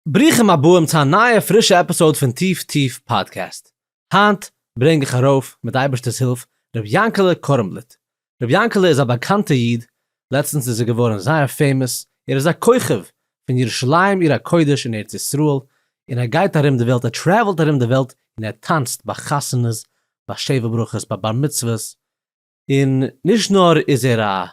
ברוכים הבאים צו א נייע פרישע עפיסאוד פון טיף טיף פאדקעסט. היינט ברענג איך ארויף, מיט אייבערשטער'ס הילף, ר' יענקעלע קורמבליט. ר' יענקעלע איז א באקאנטע איד, לעצטנס איז ער געווארן זייער פעימאס, ער איז א כוכב פון ירושלים עיר הקודש אין ארץ ישראל, און ער גייט ארום די וועלט, ער טרעוולט ארום די וועלט און ער טאנצט ביי חתונות, ביי שבע ברכות, ביי בר מצוות, און נישט נאר איז ער א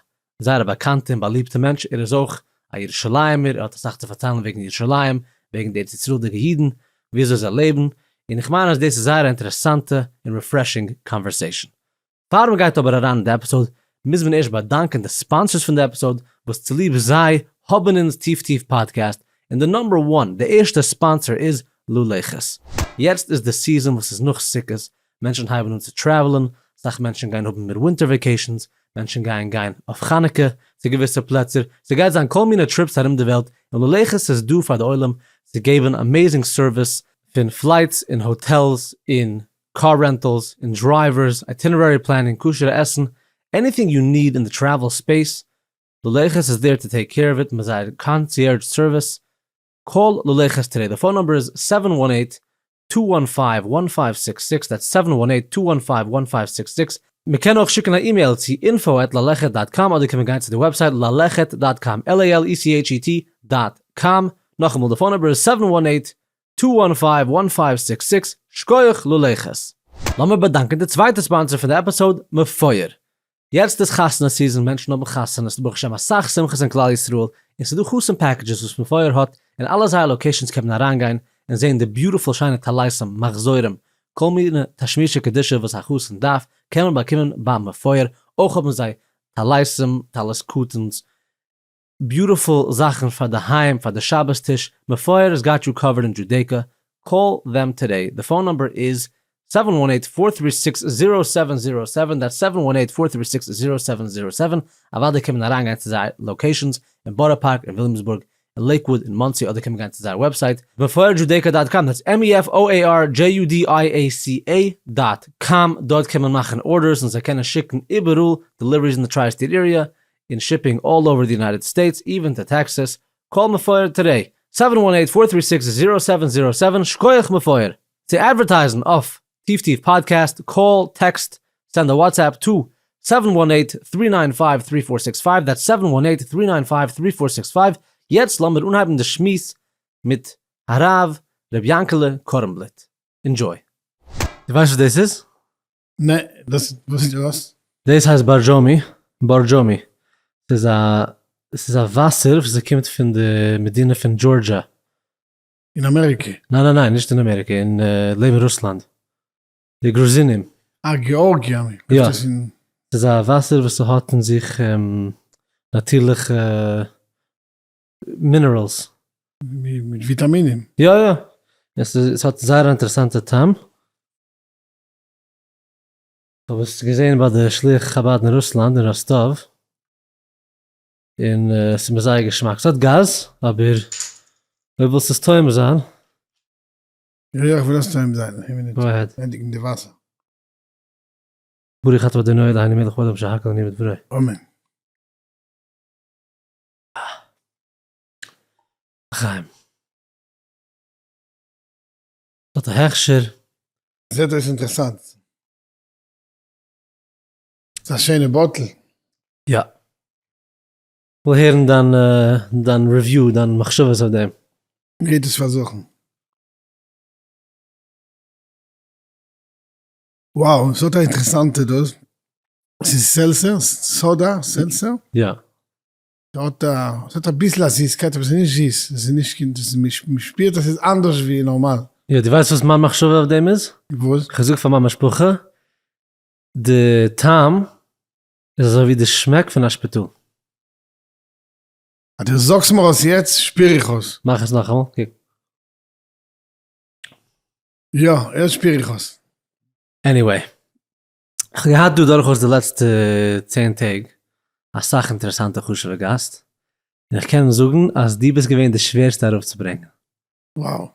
זייער א באקאנטע און באליבטע מענטש, ער איז אויך א ירושלימ'ער, ער האט אסאך צו פארציילן וועגן ירושלים, וועגן די ארץ ישראל'דיגע אידן, וויאזוי זיי לעבן, און איך מיין אז דאס איז זייער א אינטערעסאנטע און ריפרעשינג קאנווערסעישאן. פאר מען גייט אבער אריין אין די עפיסאד, מוז מען ערשט באדאנקען די ספאנסערס פון די עפיסאד, וואס צוליב זיי האבן אונז טיף טיף פאדקעסט, און די נאמבער וואן, די ערשטע ספאנסער איז לולייכעס. יעצט איז די סיזאן וואס איז נאך סוכות, מענטשן הייבן אן צו טרעוולען, אסאך מענטשן גייען האבן מער ווינטער וועקעישאנס, מענטשן גייען גיין אויף חנוכה צו געוויסע פלעצער, ס'גייט זיין כל מיני טריפס ארום די וועלט, און ללכת איז דא פאר די עולם צו געבן אמעזינג סערוויס פון פלייטס און האטעלס און קאר רענטעלס און דרייווערס, אייטינערערי פלענינג, כשר'ע עסן, עניטינג יו ניד אין די טרעוול ספעיס, ללכת איז דער טו טעיק קעיר אוו איט מיט זייער קאנציערדזש סערוויס, קאל לולי חסטרעי, די פאון נומבער איז סעווען וואן עיט טו וואן פייוו וואן פייוו סיקס סיקס, דעטס סעווען וואן עיט טו וואן פייוו וואן פייוו סיקס סיקס, מען קען אויך שיקן א אימעיל צו אינפאו עט ללכת דאט קאם אדער קען מען גיין צו די וועבסייט ללכת דאט קאם, על איי על אי סי עיטש אי טי דאט קאם, נאכאמאל די פאון נומבער איז סעווען וואן עיט טו וואן פייוו וואן פייוו סיקס סיקס, שקויעך לולי חס. לאמיר באדאנקען די צווייטע ספאנסער פון די עפיסאוד, מפואר. יעצט איז חתונה סיזען, מענטשן האבן חתונות, ברוך השם אסאך שמחות אין כלל ישראל, און ס'איז דא חתן פעקעדזשעס וואס מפואר האט, און אלע זייער לאקעישאנס קען מען אריינגיין און זעהן די ביוטיפול שיינע טלייסים, מחזורים, כל מיני תשמישי קדושה וואס א חתן דארף קען מען באקומען ביים מפואר, אויך האבן זיי טלייסים, טלית קטן'ס, ביוטעפול זאכן פאר די היים פאר די שבת טיש, מפואר איז גאט יו קאווערד אין דזשודעיקא, קאל דעם טודעי, די פאון נאמבער איז סעווען וואן עיט פאר טרי סיקס זירא סעווען זירא סעווען, דעטס סעווען וואן עיט פאר טרי סיקס זירא סעווען זירא סעווען, אוודאי קען מען אריינגיין צו זייער לאקעישאנס אין בארא פארק אין וויליאמסבורג אין לעיקוואד אין מאנסי אדער קען מען גיין צו זייער וועבסייט, מפואר דזשודעיקא דאט קאם, דעטס עם אי עף או עי אר דזשי יו די איי עי סי עי דאט קאם, דארט קען מען מאכן ארדערס און זיי קענען שיקן איבעראל, דעליוועריס אין די טריי סטעיט עיריע, און שיפינג אלל אווער די יונייטעד סטעיטס איווען טו טעקסעס, קאל מפואר טודעי, סעווען וואן עיט פאר טרי סיקס זירא סעווען זירא סעווען, שקויעך מפואר! צו אדווערטייזן אויף טיף טיף פאדקעסט, קאל, טעקסט, סענד א וואטסעפפ טו, סעווען וואן עיט טרי ניין פייוו טרי פאר סיקס פייוו, דעטס סעווען וואן עיט טרי ניין פייוו טרי פאר סיקס פייוו, יעצט לאמיר אנהייבן די שמועס מיט הרב ר' יענקעלע קארנבליט, אינדזשוי. דו ווייסט וואס דאס איז? נע, דאס וואס איז דאס? דאס הייסט בארדזשאמי, Borjomi, ס'איז א, ס'איז א וואסער וואס ס'קומט פון די מדינה פון דזשארדזשיא. אין אמעריקע? ניין ניין ניין נישט אין אמעריקע, אין לעבן רוסלאנד, די גרוזינים. אה געארגיע מיר קומט עס אין. ס'איז א וואסער וואס ס'האט אין זיך נאטירליכע מינעראלס. מיט וויטאמינען. יא יא, עס האט זייער א אינטערעסאנטע טעם. כ'האב עס געזעהן ביי די שליח חבד אין רוסלאנד אין ראסטאוו, און עס איז מיר זייער געשמאק. ס'האט גאז, אבער אויב ווילסט עס טועם זיין. יא יא כ'וויל עס טועם זיין, איין מינוט, גאו אהעד. ענדיגן די וואסער. ברוך אתה אדוני אלהינו מלך העולם שהכל נהיה בדברו. אמן. לחיים. האט א הכשר. זעט אויס אינטערסאנט. ס'איז א שיינע באטל. יא. כ'וויל הערן דיין דיין ריוויו, דיין מחשבות אויף דעם. מ'גייט עס פארזוכן. וואו, ס'האט א אינטערסאנטע דאס. ס'איז סעלצער? סאדא סעלצער? יא. ס'האט א, ס'האט אביסל א זיסקייט אבער ס'איז נישט זיס, ס'איז נישט קיין, ס'איז, מ'שפירט אז ס'איז אנדערש ווי נארמאל. יא, דו ווייסט וואס מיין מחשבה אויף דעם איז? וואס? איך האב געזאגט פאר מיין משפחה, די טעם איז אזוי ווי די שמעק פון א שפיטאל. אז דו זאגסט מיר עס יעצט, שפיר איך עס. מאך עס נאכאמאל, קוק. יא, יעצט שפיר איך עס. עניוועי. כ'האב געהאט דא דורכאויס די לעצטע צען טעג אסאך אינטערעסאנטע חשוב'ע גאסט, און איך קען זאגן אז דו ביסט געווען די שווערסטע ארויפצוברענגען. Wow.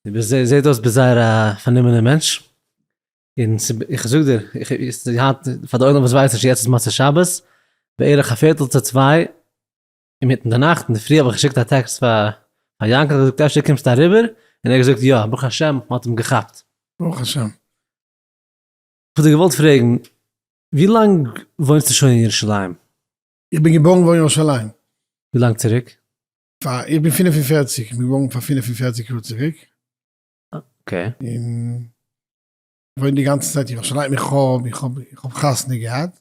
דו ביסט זע זעט אויס ביסט זייער א פארנומענער מענטש, און ס'ב איך זאג דיר, איך איז היינט פאר די עולם וואס ווייסט נישט, יעצט איז מוצאי שבת, בערך א פערטל צו צוויי אינמיטן די נאכט, אינדערפרי האב איך געשיקט א טעקסט פאר פאר יאנקל, איך האב געזאגט אפשר קומסטו אריבער, און ער האט געזאגט יא, ברוך השם מ'האט אים געכאפט. ברוך השם. כ'האב דיר געוואלט פרעגן, ווי לאנג וואוינסטו שוין אין ירושלים? איך בין געבוירן וואו אין ירושלים? ווי לאנג צוריק? פאר, איך בין פֿינף און פֿערציק, איך בין געבוירן פאר פֿינף און פֿערציק יאר צוריק. אקעי. און וואוין די גאנצע צייט אין ירושלים, איך האב, איך האב, איך האב חתונה געהאט.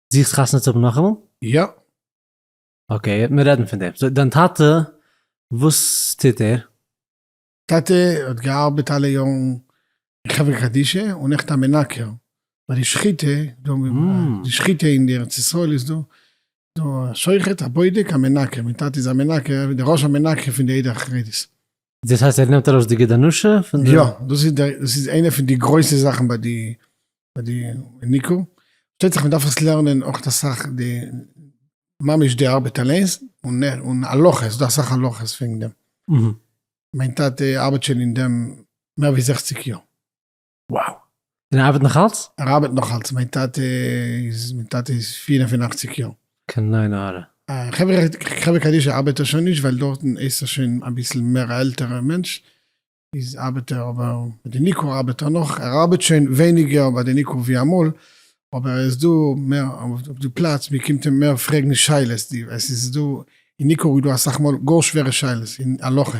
זוכסט חתונה צו האבן נאכאמאל? יא. אקעי, מיר רעדן פון דעם. סאו דיין טאטע, וואס טוט ער? טאטע האט געארבעט אלע יארן אין חברה קדישא און עכט א מנקר ביי די שחיטה, דא די שחיטה אין די ארץ ישראל איז דא דא א שוחט א בודק א מנקה, מיין טאטע איז א מנקה, דער ראש המנקה פון די עדה החרדית. דאס הייסט ער נעמט ארויס די גד הנשה פון די יא דאס איז דער דאס איז איינע פון די גרויסע זאכן ביי די ביי די ניקו שטייט זיך מען דארף עס לערנען אויך די סאך די ממש די ארבעט אליינס און און הלכות דא סאך הלכות פון דעם מיין טאטע ארבעט שוין אין דעם מער ווי זעכציק יאר. וואו! און ער ארבעט נאך אלץ? ער ארבעט נאך אלץ, מיין טאטע איז מיין טאטע איז פֿיר און פֿינאַכציק יאר. קיין עין הרע. חברה קדישא ארבעט ער שוין נישט ווייל דארטן איז ער שוין אביסל מער א עלטערע מענטש, איז ארבעט ער אבער מיט די ניקור ארבעט ער נאך, ער ארבעט שוין ווייניגער ביי די ניקור ווי אמאל, אבער ער איז דא מער אויף די פלאץ, מען קומט אים מער פרעגן שאלות, עס איז דא אין ניקור איז דא אסאך מאל גאר שווערע שאלות אין הלכה.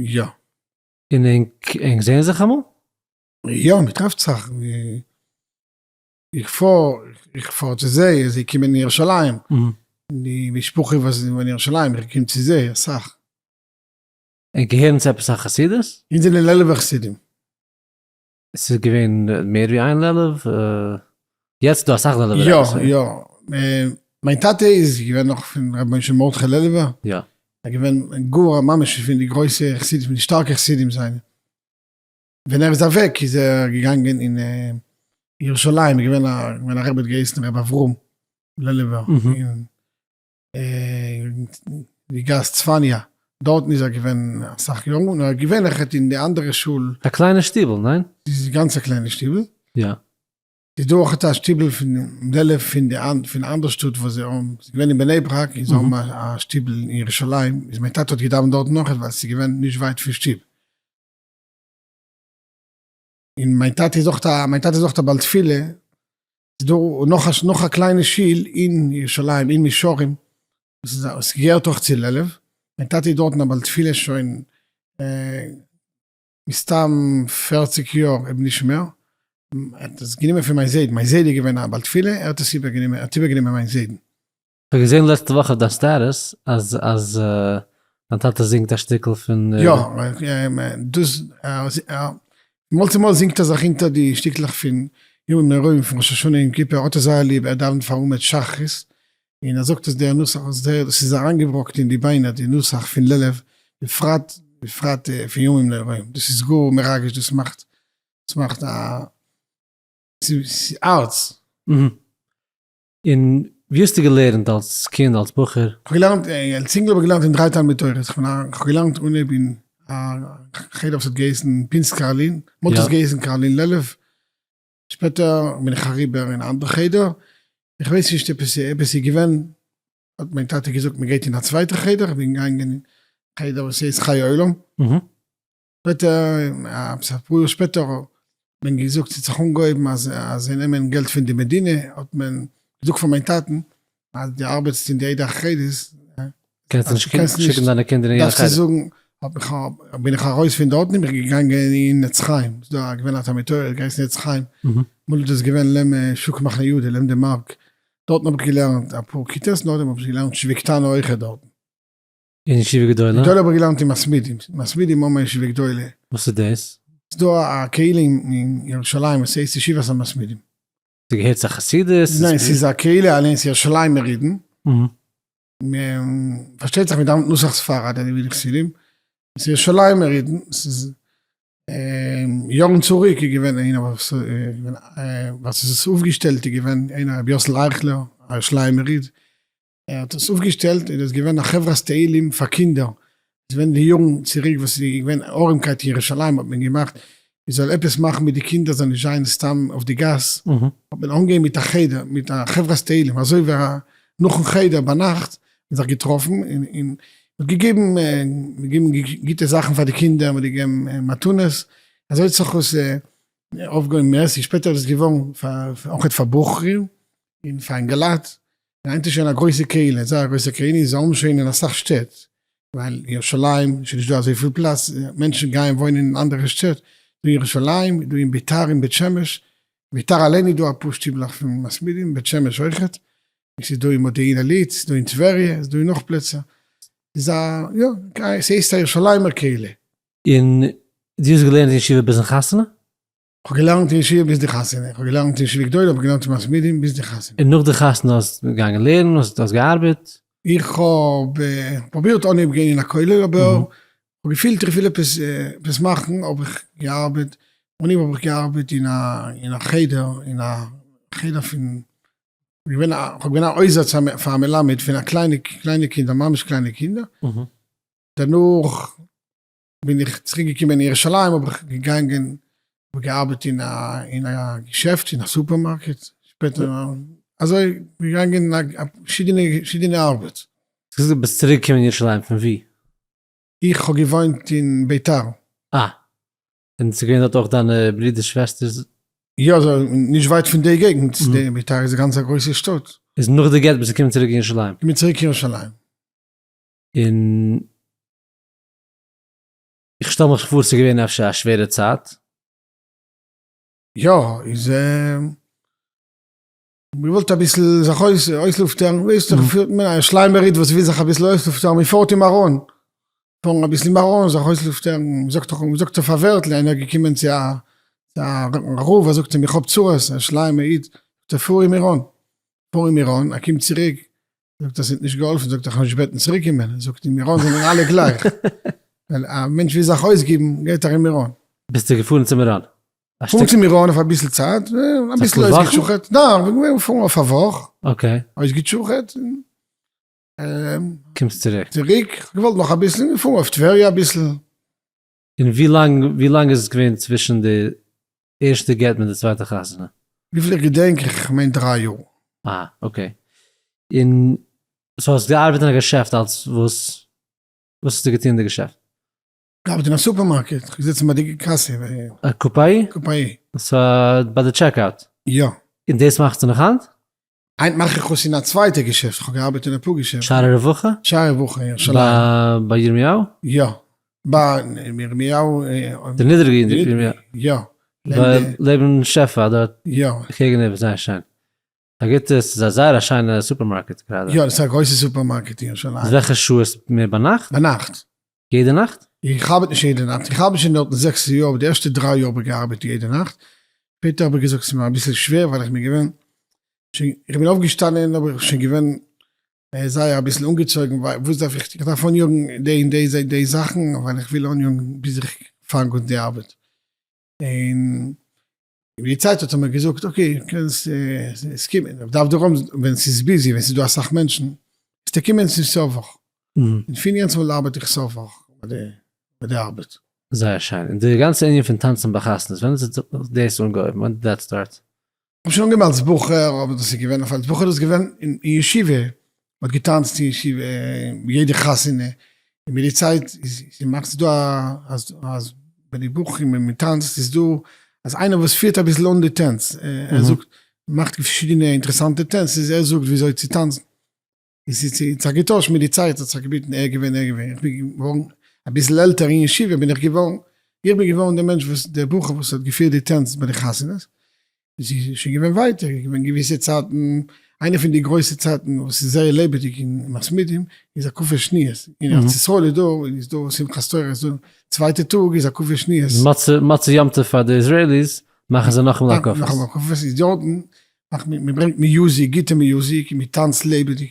יא. און ענק זעהן זיך אמאל? יא מען טרעפט זיך, איך פאר איך פאר צו זיי, זיי קומען אין ירושלים, די משפחה וואס איז אין ירושלים איך קום צו זיי אסאך. ענק געהערן צו עפעס א חסידות? אונז זענען לעלוב'ע חסידים. ס'איז געווען מער ווי איין לעלוב? יעצט איז דא אסאך לעלוב'ער יא רבי'ס. יא, מיין טאטע איז געווען נאך פון רבי משה מרדכי לעלובער, יא. ער געווען גאר א ממש פון די גרויסע חסידים פון די שטארקע חסידים זיינע, ווען ער איז אוועק איז ער געגאנגען אין ירושלים, איז געווען א רבי האט געהייסן רבי אברהם לעלובער, די גאס צפניה דארטן איז ער געווען אסאך יארן און ער האט געווענליכעט אין די אנדערע שול. א קליינע שטיבל, ניין? ס'איז א גאנצע קליינע שטיבל. יא. ס'איז דא אויך א שטיבל פון אנדעלע פון די פון אנדער שטאט וואס זיי האבן, ס'איז געווען אין בני ברק און זיי האבן א שטיבל אין ירושלים, איז מיין טאטע האט געדאווענט דארטן אויכעט ווייל ס'איז געווען נישט ווייט פון שטוב. און מיין טאטע איז אויך א, מיין טאטע איז אויך א בעל תפילה, איז דא נאך א, נאך א קליינע שול אין ירושלים אין מישרים, וואס געהערט אויך צו לעלוב, מיין טאטע איז דארטן א בעל תפילה שוין מסתם פערציג יאר אויב נישט מער, ער האט עס גענומען פון מיין זיידן, מיין זיידע איז געווען א בעל תפילה, ער האט עס איבער גענומען, ער האט איבער גענומען מיין זיידן. כ'האב געזען לעצטע וואך אויף דיין סטעטוס אז אז דיין טאטע זינגט א שטיקל פון די. יא, דאס מאל צו מאל זינגט ער זיך אונטער די שטיקלעך פון ימים נוראים פון ראש השנה יום כיפור האט ער זייער ליב, ער דאווענט פאר מעמד שחרית און ער זאגט אז דער נוסח איז זייער דאס איז אריינגעבראקט אין די ביינער די נוסח פון לעלוב בפרט בפרט פון ימים נוראים דאס איז גאר מרגש דאס מאכט דאס מאכט א ס'איז הארץ. און ווי האסטו געלערנט אלס קינד אלס בחור? כ'האב געלערנט, אלס אינגל האב איך געלערנט אין דריי תלמוד תורה'ס, כ'האב געלערנט אנהויב אין א חדר וואס האט געהייסן פינסק קארלין, מאנטאג האט עס געהייסן קארלין לעלוב, שפעטער בין איך אריבער אין א אנדערע חדר, איך ווייס נישט עפעס איז געווען, האט מיין טאטע געזאגט מ'גייט אין א צווייטע חדר, כ'בין געגאנגען אין חדר וואס הייסט חיי עולם, שפעטער, עפעס אפאר יאר שפעטער, האט מען געזאגט ס'האט זיך אנגעהויבן אז זיי נעמען געלט פון די מדינה, האט מען געזאגט פאר מיין טאטן, אז דו ארבעטסט אין די עדה החרדית, קענסטו נישט שיקן דיינע קינדער אין יענע חדר. בין איך ארויס פון דארטן און בין איך געגאנגען אין עץ חיים, ס'איז דא געווען א תלמוד תורה געהייסן עץ חיים, אמאל איז דאס געווען לעם שוק מחנה יהודה, לעם די מארק, דארטן האב איך געלערנט אפאר כיתות, נאכדעם האב איך געלערנט שביעי קטנה אויכעט דארטן. אין ישיבה גדולה? גדולה האב איך געלערנט אין מספידים, מספידים האבן א ישיבה גדולה. וואס איז דאס? ס'איז דא א קהילה אין ירושלים וואס הייסט ישיבת המספידים. ס'געהערט צו א חסידות? ניין, ס'איז א קהילה אליינס ירושלימ'ער אידן. פארשטייט זיך מ'דאווענט נוסח ספרד אזוי ווי די חסידים. ס'איז ירושלימ'ער אידן, ס'איז יארן צוריק איז געווען איינער וואס איז עס אויפגעשטעלט איז געווען איינער ר' יוסל אייכלער א ירושלימ'ער איד. ער האט עס אויפגעשטעלט און עס איז געווען א חברת תהלים פאר קינדער, עס ווען די יארן צוריק וואס איז געווען ארעמקייט אין ירושלים האט מען געמאכט מען זאל עפעס מאכן מיט די קינדער זאל נישט זיין סתם אויף די גאס, האט מען אנגעהויבן מיט א חדר מיט א חברת תהלים אזוי ווי א נאכן חדר ביינאכט מען זיך געטראפן און און מען האט געגעבן געבן גוטע זאכן פאר די קינדער מען האט געגעבן מתנות אזוי האט זיך עס אויפגעהויבן מערסי שפעטער איז עס געווארן אויך פאר בחורים און פאר אינגעלייט. היינט איז שוין א גרויסע קהלה, זייער א גרויסע קהלה, און זיי האבן שוין אין אסאך שטעט, ווייל ירושלים איז שוין נישט דא אזויפיל פלאץ, מענטשן גייען וואוינען אין אנדערע שטעט, דא אין ירושלים, דא אין ביתר אין בית שמש, ביתר אליין איז דא אפאר שטיבלעך פון מספידים, בית שמש אויכעט, עס איז דא אין מודיעין עלית, עס איז דא אין טבריה, עס איז דא אין נאך פלעצער, איז א יא, ס'הייסט א ירושלימ'ער קהלה. און דו האסט געלערנט אין ישיבה ביזן חתונה? כ'האב געלערנט אין ישיבה ביז די חתונה, כ'האב געלערנט אין ישיבה גדולה, כ'האב געלערנט אין מאס מידיע ביז די חתונה. און נאך די חתונה האסט געגאנגען לערנען, האסט האסט געארבעט? איך האב פרובירט אנהייב גיין אין א כולל אבער כ'האב געפילט איך וויל עפעס עפעס מאכן האב איך געארבעט, אנהייב האב איך געארבעט אין א אין א חדר אין א חדר פון געווען א כ'האב געווען א עוזר פאר א מלמד פון א קליינע קליינע קינדער ממש קליינע קינדער, דערנאך בין איך צוריק געקומען אין ירושלים האב איך געגאנגען האב געארבעט אין א אין א געשעפט אין א סופערמארקעט שפעטער אזוי געגאנגען פארשידענע ארבעט. ס'איז גוט ביסט צוריק געקומען אין ירושלים פון ווי? איך האב געוואוינט אין ביתר. אה. און ס'איז געווען דארט אויך דיינע ברודערס שוועסטערס? יא אזוי נישט ווייט פון די געגנט ביתר איז גאנץ א גרויסע שטאט. איז נאך די גט ביסט געקומען צוריק אין ירושלים? כ'בין צוריק אין ירושלים. און איך שטעל מיך פאר ס'איז געווען אפשר א שווערע צייט. יא, איז ער געוואלט אביסל זיך אויסלופטערן, ווייסט זיך פילט מען א שליימער איד וואס וויל זיך אביסל אויסלופטערן, מען פארט אים ארום, פארן אביסל אים ארום זיך אויסלופטערן, מען זאגט דאך, מען זאגט אויף א ווערטל, איינער געקומען צו א רב ער זאגט אים איך האב צרות, א שליימער איד, זאגט ער פאר אים ארום, פאר אים ארום, ער קומט צוריק, זאגט ער ס'האט נישט געהאלפן, זאגט ער כ'האב נישט געבעטן צוריק קומען, ער זאגט אין מירון זענען אלע גלייך, ווייל א מענטש וויל זיך אויסגעבן גייט ער אין מירון. ביסטו געפארן צו מירון? געפארן צו מירון אויף אביסל צייט, אביסל אויסגעטשוכעט, ניין כ'בין געווען געפארן אויף א וואך, אויסגעטשוכעט, און קומסט צוריק, צוריק, כ'האב געוואלט נאך אביסל, און געפארן אויף טבריה אביסל. און ווי לאנג ווי לאנג איז עס געווען צווישן די ערשטע גט מיט די צווייטע חתונה? וויפיל איך געדענק איך מיין דריי יאר. אה אקעי, און סאו האסט געארבעט אין א געשעפט אלס וואס? וואס האסטו געטון אין די געשעפט? געארבעט אין א סופערמארקעט, געזיצן ביי די קאסע. א קופאי? קופאי. סאו ביי די טשעק אוט? יא. און דאס מאכסטו נאך היינט? היינט מאך איך עס אין א צווייטע געשעפט, כ'האב געארבעט אין אפאר געשעפטן. שערי רווחה? שערי רווחה אין ירושלים. ביי ירמיהו? יא. ביי ירמיהו. די נידעריגע ירמיהו? יא. לעבן שפע דארט? יא. קעגן איבער, זייער שיין. א גוטע, ס'איז א זייער א שיינע סופערמארקעט גראדע. יא, ס'איז א גרויסע סופערמארקעט אין ירושלים. וועלכע שעה איז מער ביינאכט? ביינאכט. יעדע נאכט? איך ארבעט נישט יעדע נאכט, איך ארבעט שוין דארטן זעקס יאר, אבער די ערשטע דריי יאר האב איך געארבעט יעדע נאכט, שפעטער האב איך געזאגט ס'איז מיר אביסל שווער ווייל איך בין געווען שוין, איך בין אויפגעשטאנען אבער איך בין שוין געווען זייער אביסל אנגעצויגן, ווייל וואס דארף איך, איך דארף אניאגן די און די און די זאכן ווייל איך וויל אניאגן ביז איך פאנג אן די ארבעט, און מיט די צייט האט ער מיר געזאגט אקעי קענסט עס קומען אויף דף דרום ווען עס איז ביזי ווען עס איז דא אסאך מענטשן קענסטו קומען צו סוף וואך און פון יענץ מאל ארבעט איך סוף וואך ביי די ארבעט. זייער שיין, און די גאנצע ענין פון טאנצן ביי חתונות ווען האט זיך דאס אנגעהויבן? ווען דיד דעט סטארט? כ'האב שוין אנגעהויבן אלס בחור אבער דאס איז געווען אויף אלס בחור איז געווען אין ישיבה מ'האט געטאנצט אין ישיבה און יעדע חתונה און מיט די צייט איז מאכט זיך דא אז ביי די בחורים ווען מ'טאנצט איז דא אז איינער וואס פירט אביסל אן די טענץ ער זאגט מאכט פארשידענע אינטערעסאנטע טענץ איז ער זאגט וויאזוי צו טאנצן און ס'האט זיך געטוישט מיט די צייט האט זיך געביטן ער געווען ער געווען איך בין געווארן אביסל עלטער אין ישיבה בין איך געווארן איך בין געווארן די מענטש וואס דער בחור וואס האט געפירט די טענץ ביי די חתונות עס איז שוין געווען ווייטער, עס איז געווען געוויסע צייטן, איינע פון די גרויסע צייטן וואס איז זייער לעבעדיג אין מסמידים איז הקפה שניות, אין ארץ ישראל איז דא איז דא שמחת תורה איז דא צווייטע טאג איז הקפה שניות. די מצה מצה יום טוב פאר די איזרעיליס מאכן זיי נאכאמאל הקפות. נאכאמאל הקפות איז דארטן מאכט מען מען ברענגט מיוזיק גוטע מיוזיק און מען טאנצט לעבעדיג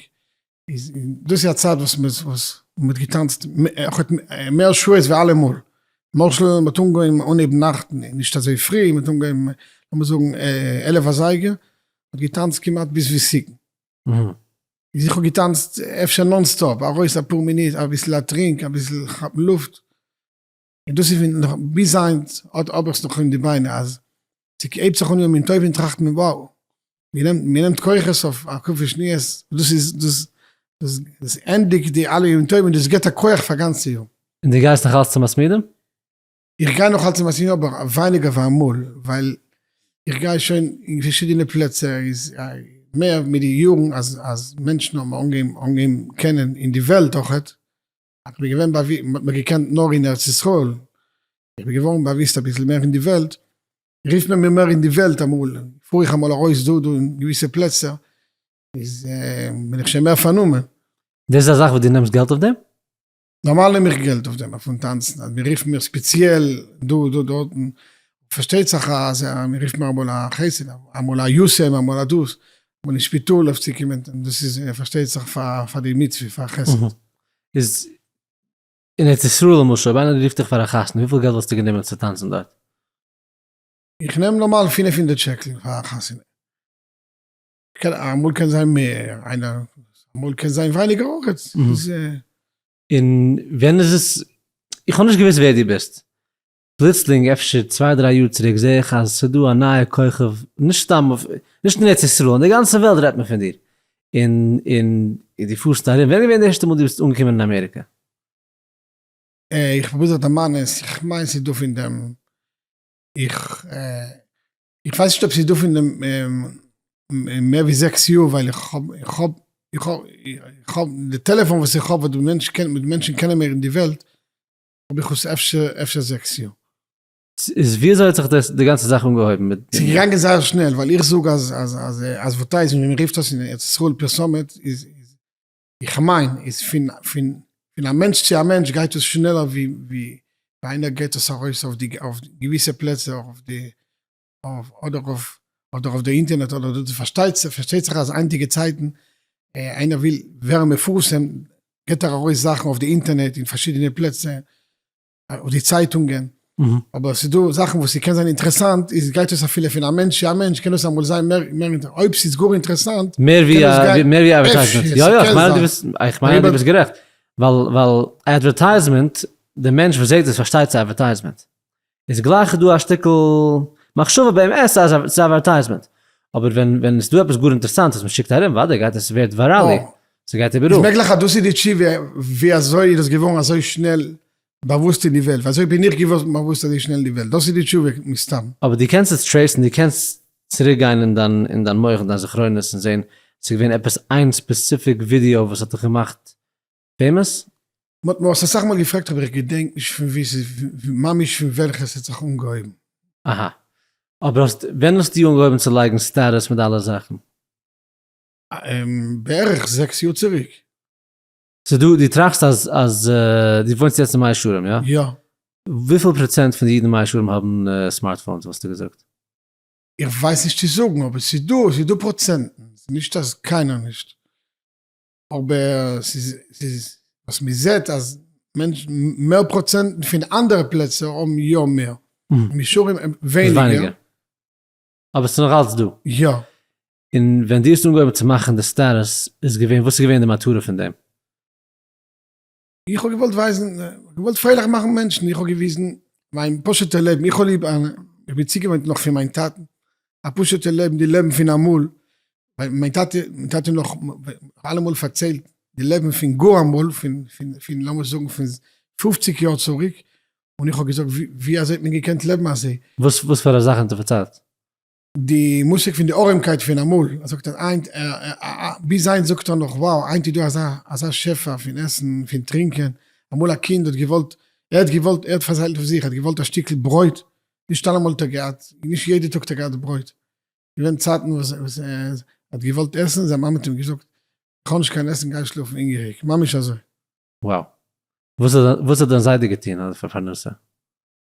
איז דאס איז א צייט וואס מען וואס מען האט געטאנצט מער שעות ווי אלעמאל, למשל מען האט אנגעהויבן אנהייבן נאכט נישט אזוי פרי, מען האט אנגעהויבן לאמיר זאגן עלף אזייגער, מען האט געטאנצט כמעט ביז וועסיקן, איז איך האב געטאנצט אפשר נאן סטאפ, ארויס אפאר מינוט אביסל א טרינק אביסל כאפן לופט, און דאס איז ווי נאך ביז היינט האט האב איך עס נאך אין די ביינער אז ס'הייבט זיך אן יום טוב און טראכט מען wow מיר נעמט כוחות אויף א קופה שניות דאס איז דאס דאס ענדיגט די אלע ימים טובים דאס גיבט א כוח פאר גאנצע יאר. און דו גייסט נאך אלץ צו מסמידים? איך גיי נאך אלץ צו מסמידים אבער ווייניגער ווי אמאל ווייל איך גיי שוין אין פארשידענע פלעצער איז מער מיט די יארן אז מענטשן האבן אנגעהויבן קענען אין די וועלט אויכעט איך בין געווען באוו, מען האט מיך געקענט נאר אין ארץ ישראל, איך בין געווארן באוויסט אביסל מער אין די וועלט, רופט מען מיר מער אין די וועלט אמאל, פאר איך אמאל ארויס דא דא אין געוויסע פלעצער, איז בין איך שוין מער פארנומען. דאס איז א זאך וואס דו נעמסט געלט אויף דעם? נארמאל נעם איך געלט אויף דעם, פון טאנצן, אז מען רופט מיר ספעציעל דא דא דארטן, פארשטייט זיך אז מען רופט מיר אמאל א חסד, אמאל א יסעם, אמאל א דאס, אמאל אין שפיטאל אויף צו קומען, דאס איז פארשטייט זיך פאר די מצוה, פאר חסד. איז אין ארץ ישראל למשל אויב איינער רופט דיך פאר א חתונה וויפיל געלט וואלסטו גענומען צו טאנצן דארט? איך נעם נארמאל פֿינף הונדערט שקל פאר א חתונה. קען אמאל קען זיין מער איינער אמאל קען זיין ווייניגער אויכעט. און ווען איז עס איך האב נישט געוויסט ווער דו ביסט פלוצלינג אפשר צוויי דריי יאר צוריק זעה איך אז ס'דא א נייע כוכב נישט סתם נישט אין ארץ ישראל אין די גאנצע וועלט רעדט מען פון דיר און און דו פארסט ארום, ווען איז געווען די ערשטע מאל דו ביסט אנגעקומען אין אמעריקע? איך פרוביר זיך דערמאנען, איך מיין ס'איז דא פון דעם, איך איך ווייס נישט אויב ס'איז דא פון דעם מער ווי זעקס יאר ווייל איך האב איך האב איך האב איך האב די טעלעפאן וואס איך האב וואס די מענטשן קענען מענטשן קענען מיר אין די וועלט האב איך עס אפשר אפשר זעקס יאר. איז וויאזוי האט זיך די גאנצע זאך אנגעהויבן מיט די. ס'איז געגאנגען זייער שנעל ווייל איך זאג אז אז אז אדווערטייזמענט ווי מ'רופט עס אין ארץ ישראל פרסומת איז איז איך מיין איז פון פון פון א מענטש צו א מענטש גייט עס שנעלער ווי ווי איינער געט עס ארויס אויף די אויף געוויסע פלעצער אויף די אדער אויף אדער אויף די אינטערנעט אדער דא פארשטייט זיך פארשטייט זיך אז היינטיגע צייטן איינער וויל ווערן מפורסם געט ער ארויס זאכן אויף די אינטערנעט אין פארשידענע פלעצער אויף די צייטונגען אבער עס איז דא זאכן וואס ס'קען זיין אינטערעסאנט איז גייט עס אפילו פון א מענטש צו א מענטש קען עס אמאל זיין מער מער אויב ס'איז גאר אינטערעסאנט מער ווי א מער ווי א אדווערטייזמענט יא יא כ'מיין אז דו ביסט איך מיין אז דו ביסט גערעכט ווייל ווייל אדווערטייזמענט די מענטש וואס זעהט עס פארשטייט ס'איז אדווערטייזמענט איז גלייך דא א שטיקל מחשבה ביים עס אז ס'איז אווערטייזמענט, אבער ווען ווען ס'דא עפעס גאר אינטערסאנט וואס מ'שיקט ארום וואדעי גייט עס ווערט ווייראלי, אה. ס'גייט איבעראל. איז מעגליך אז דאס איז די תשובה ווי אזוי איז עס געווארן אזוי שנעל באוואוסט אין די וועלט, ווי אזוי בין איך געווארן באוואוסט אזוי שנעל אין די וועלט, דאס איז די תשובה מסתם. אבער דו קענסט עס טרעיסן, דו קענסט צוריק גיין אין דיין אין דיין מח אין דיין זכרונות און זעהן ס'איז געווען עפעס איין ספעסיפיק ווידיאו וואס האט דיך געמאכט פעימאס? מ'האט מיר עס אסאך מאל געפרעגט אבער איך געדענק נישט פון ווי ס'איז ממש פון וועלכע ס'האט זיך אנגעהויבן. אהא. אבער האסט, ווען האסטו אנגעהויבן צו לייגן סטעטוס מיט אלע זאכן? אממ. בערך זעקס יאר צוריק. סאו דו דו טראכסט אז אז דו וואוינסט יעצט אין מאה שערים יא? יא. וויפיל פראצענט פון די אידן אין מאה שערים האבן סמארטפאונס וואלסטו געזאגט? איך ווייס נישט צו זאגן אבער ס'איז דא ס'איז דא פראצענטן ס'איז נישט אז קיינער נישט. אבער ס'איז ס'איז וואס מ'זעהט אז מענטשן מער פראצענטן פון אנדערע פלעצער האבן יא מער, מישרים האבן ווייניגער. אבער ס'איז נאך אלץ דא. יא. און ווען דו האסט אנגעהויבן צו מאכן די סטאטוס איז געווען, וואס איז געווען די מטרה פון דעם? איך האב געוואלט ווייזן, געוואלט פרייליך מאכן מענטשן, איך האב געוויזן מיין פשוט'ע לעבן, איך האב ליב, איך בין צוגעוואוינט נאך פון מיין טאטן, א פשוט'ע לעבן, די לעבן פון אמאל, מיין טאטע, מיין טאטע נאך, אלעמאל פארציילט די לעבן פון גאר אמאל, פון, פון, לאמיר זאגן פון פופציג יאר צוריק, און איך האב געזאגט ווי אזוי האט מען געקענט לעבן אזוי? וואס פארא זאכן האט ער פארציילט? די מושג פון די ארעמקייט פון אמאל, ער זאגט אז היינט, ביז היינט זאגט ער נאך wow, היינט איז דא אזא אזא שפע פון עסן, פון טרינקען, אמאל א קינד האט געוואלט, ער האט געוואלט, ער האט פארציילט פון זיך, ער האט געוואלט א שטיקל ברויט, נישט אלעמאל האט ער געהאט, נישט יעדע טאג האט ער געהאט ברויט, געווען צייטן וואס ער האט געוואלט עסן, זיין מאמע האט אים געזאגט, איך האב נישט קיין עסן גיי שלאפן הונגעריג, ממש אזוי. wow. וואס האט דיין זיידע געטון אז פאר פרנסה?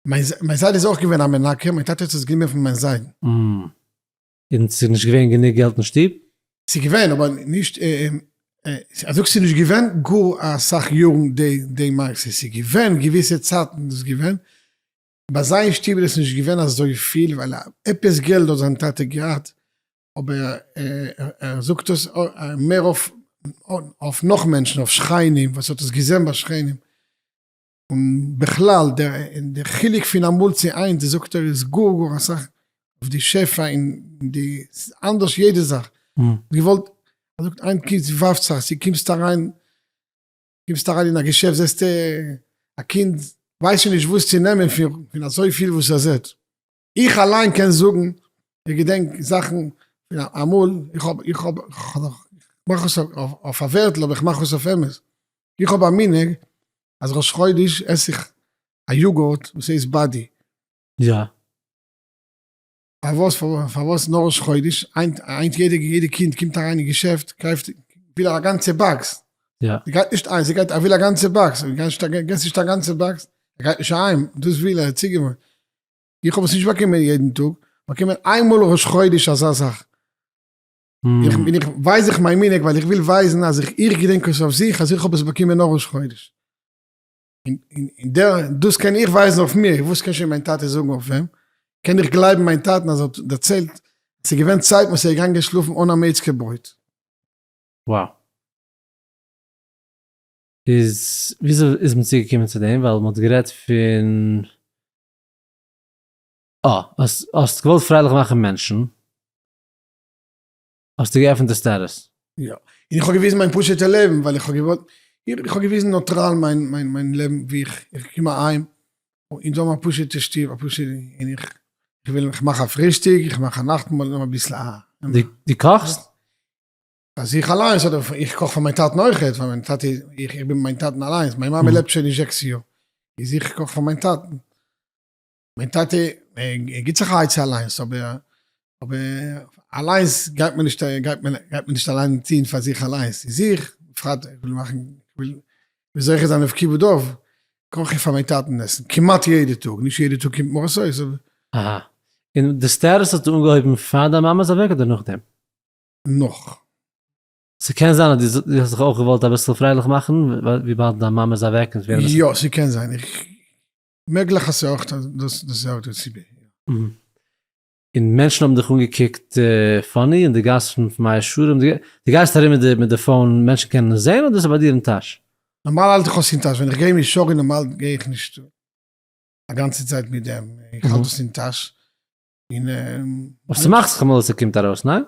מיין זיידע איז אויך געווען א מנקה, מיין טאטע האט עס גענומען פון מיין זיידן. און ס'איז נישט געווען גענוג געלט אין שטוב? ס'איז געווען אבער נישט, אז זאגסט ס'איז נישט געווען גאר אסאך יארן די מעשה, ס'איז געווען געוויסע צייטן איז דאס געווען, ביי זיי אין שטוב איז עס נישט געווען אזויפיל ווייל עפעס געלט האט זיין טאטע געהאט, אבער ער זאגט דאס מער אויף נאך מענטשן, אויף שכנים וואס ער האט עס געזען ביי שכנים. און בכלל דער חילוק פון אמאל צו היינט זאגט ער איז גאר גאר אסאך אויף די שפע און די אנדערש יעדע זאך געוואלט ער זאגט היינט קומט צו ווארפט זיך צו קומסט אריין קומסט אריין אין א געשעפט זעסטו א קינד ווייסט שוין נישט וואס צו נעמען פון אזויפיל וואס ער זעט. איך אליין קען זאגן, איך געדענק זאכן אמאל, איך האב, איך האב, כ'מאך עס אויף א ווערטל אבער כ'מאך עס אויף אמת, איך האב א מנהג אז ראש חודש עס איך א יאגורט וואס הייסט באדי. יא. פארוואס, פארוואס נאר ראש חודש? היינט, היינט יעדע, יעדע קינד קומט אריין אין געשעפט קויפט, וויל ער א גאנצע באקס. יא. ער גייט נישט איינס, ער גייט, ער וויל א גאנצע באקס, געסט נישט א גאנצע באקס, ער גייט נישט אהיים, דאס וויל ער, צוגעוואוינט. איך האב עס נישט באקומען יעדן טאג, באקומען איין מאל ראש חודש אזא זאך. איך בין איך ווייז איך מיין מנהג ווייל איך וויל ווייזן אז איך איך געדענק עס אויף זיך אז איך האב עס באקומען נאר ראש חודש. און און און דער דאס קען איך ווייזן אויף מיר, וואס קען שוין מיין טאטע זאגן אויף אים? קען איך גלייבן מיין טאטן אז ער האט דערציילט עס איז געווען צייטן וואס ער איז געגאנגען שלאפן אן א מעיצקע ברויט. Wow. איז וויאזוי איז מען צוגעקומען צו דעם ווייל מען האט גערעדט פון. אה האסט האסט געוואלט פרייליך מאכן מענטשן, האסטו געעפנט די סטעטוס. יא, און איך האב געוויזן מיין פשוט'ע לעבן ווייל איך האב געוואלט, איך האב געוויזן נוטראל מיין מיין מיין לעבן ווי איך איך קום אהיים און זיי האבן א פשוט'ע שטוב א פשוט'ע און איך איך וויל איך מאך א פרישטאג איך מאך א נאכטמאל און אביסל א. די קאכסט? אז איך אליינס אדער איך קאך פאר מיין טאטן אויך יעצט ווייל מיין טאטע איז איך איך בין מיין טאטן אליינס מיין מאמע לעבט שוין נישט זעקס יאר איז איך קאך פאר מיין טאטן מיין טאטע ער גיבט זיך א עצה אליינס אבער אבער אליינס גייט מען נישט גייט מען גייט מען נישט אליין טוהן פאר זיך אליינס איז איך בפרט איך וויל מאכן איך וויל זוכה זיין אויף כיבוד אב קאך איך פאר מיין טאטן עסן כמעט יעדע טאג נישט יעדע טאג קומט מרות אויס אבער. אהא. און די סטעטוס האט אנגעהויבן פאר דיין מאמע איז אוועק אדער נאכדעם? נאך. ס'קען זיין אז דו האסט זיך אויך געוואלט אביסל פרייליך מאכן וויבאלד דיין מאמע איז אוועק און ס'געווען אביסל. יא ס'קען זיין, איך, מעגליך אז ס'אויך דאס איז אויך די סיבה. און מענטשן האבן דיך אנגעקוקט פאני אין די גאס פון מאה שערים, דו גייסט ארום מיט די פאון מענטשן קענען עס זעהן אדער ס'איז ביי דיר אין טאש? נארמאל האלט איך עס אין טאש, ווען איך גיי מאה שערים נארמאל גיי איך נישט א גאנצע צייט מיט דעם, איך האלט עס אין טאש, און ס'מאכט זיך אמאל אז ס'קומט ארויס, ניין?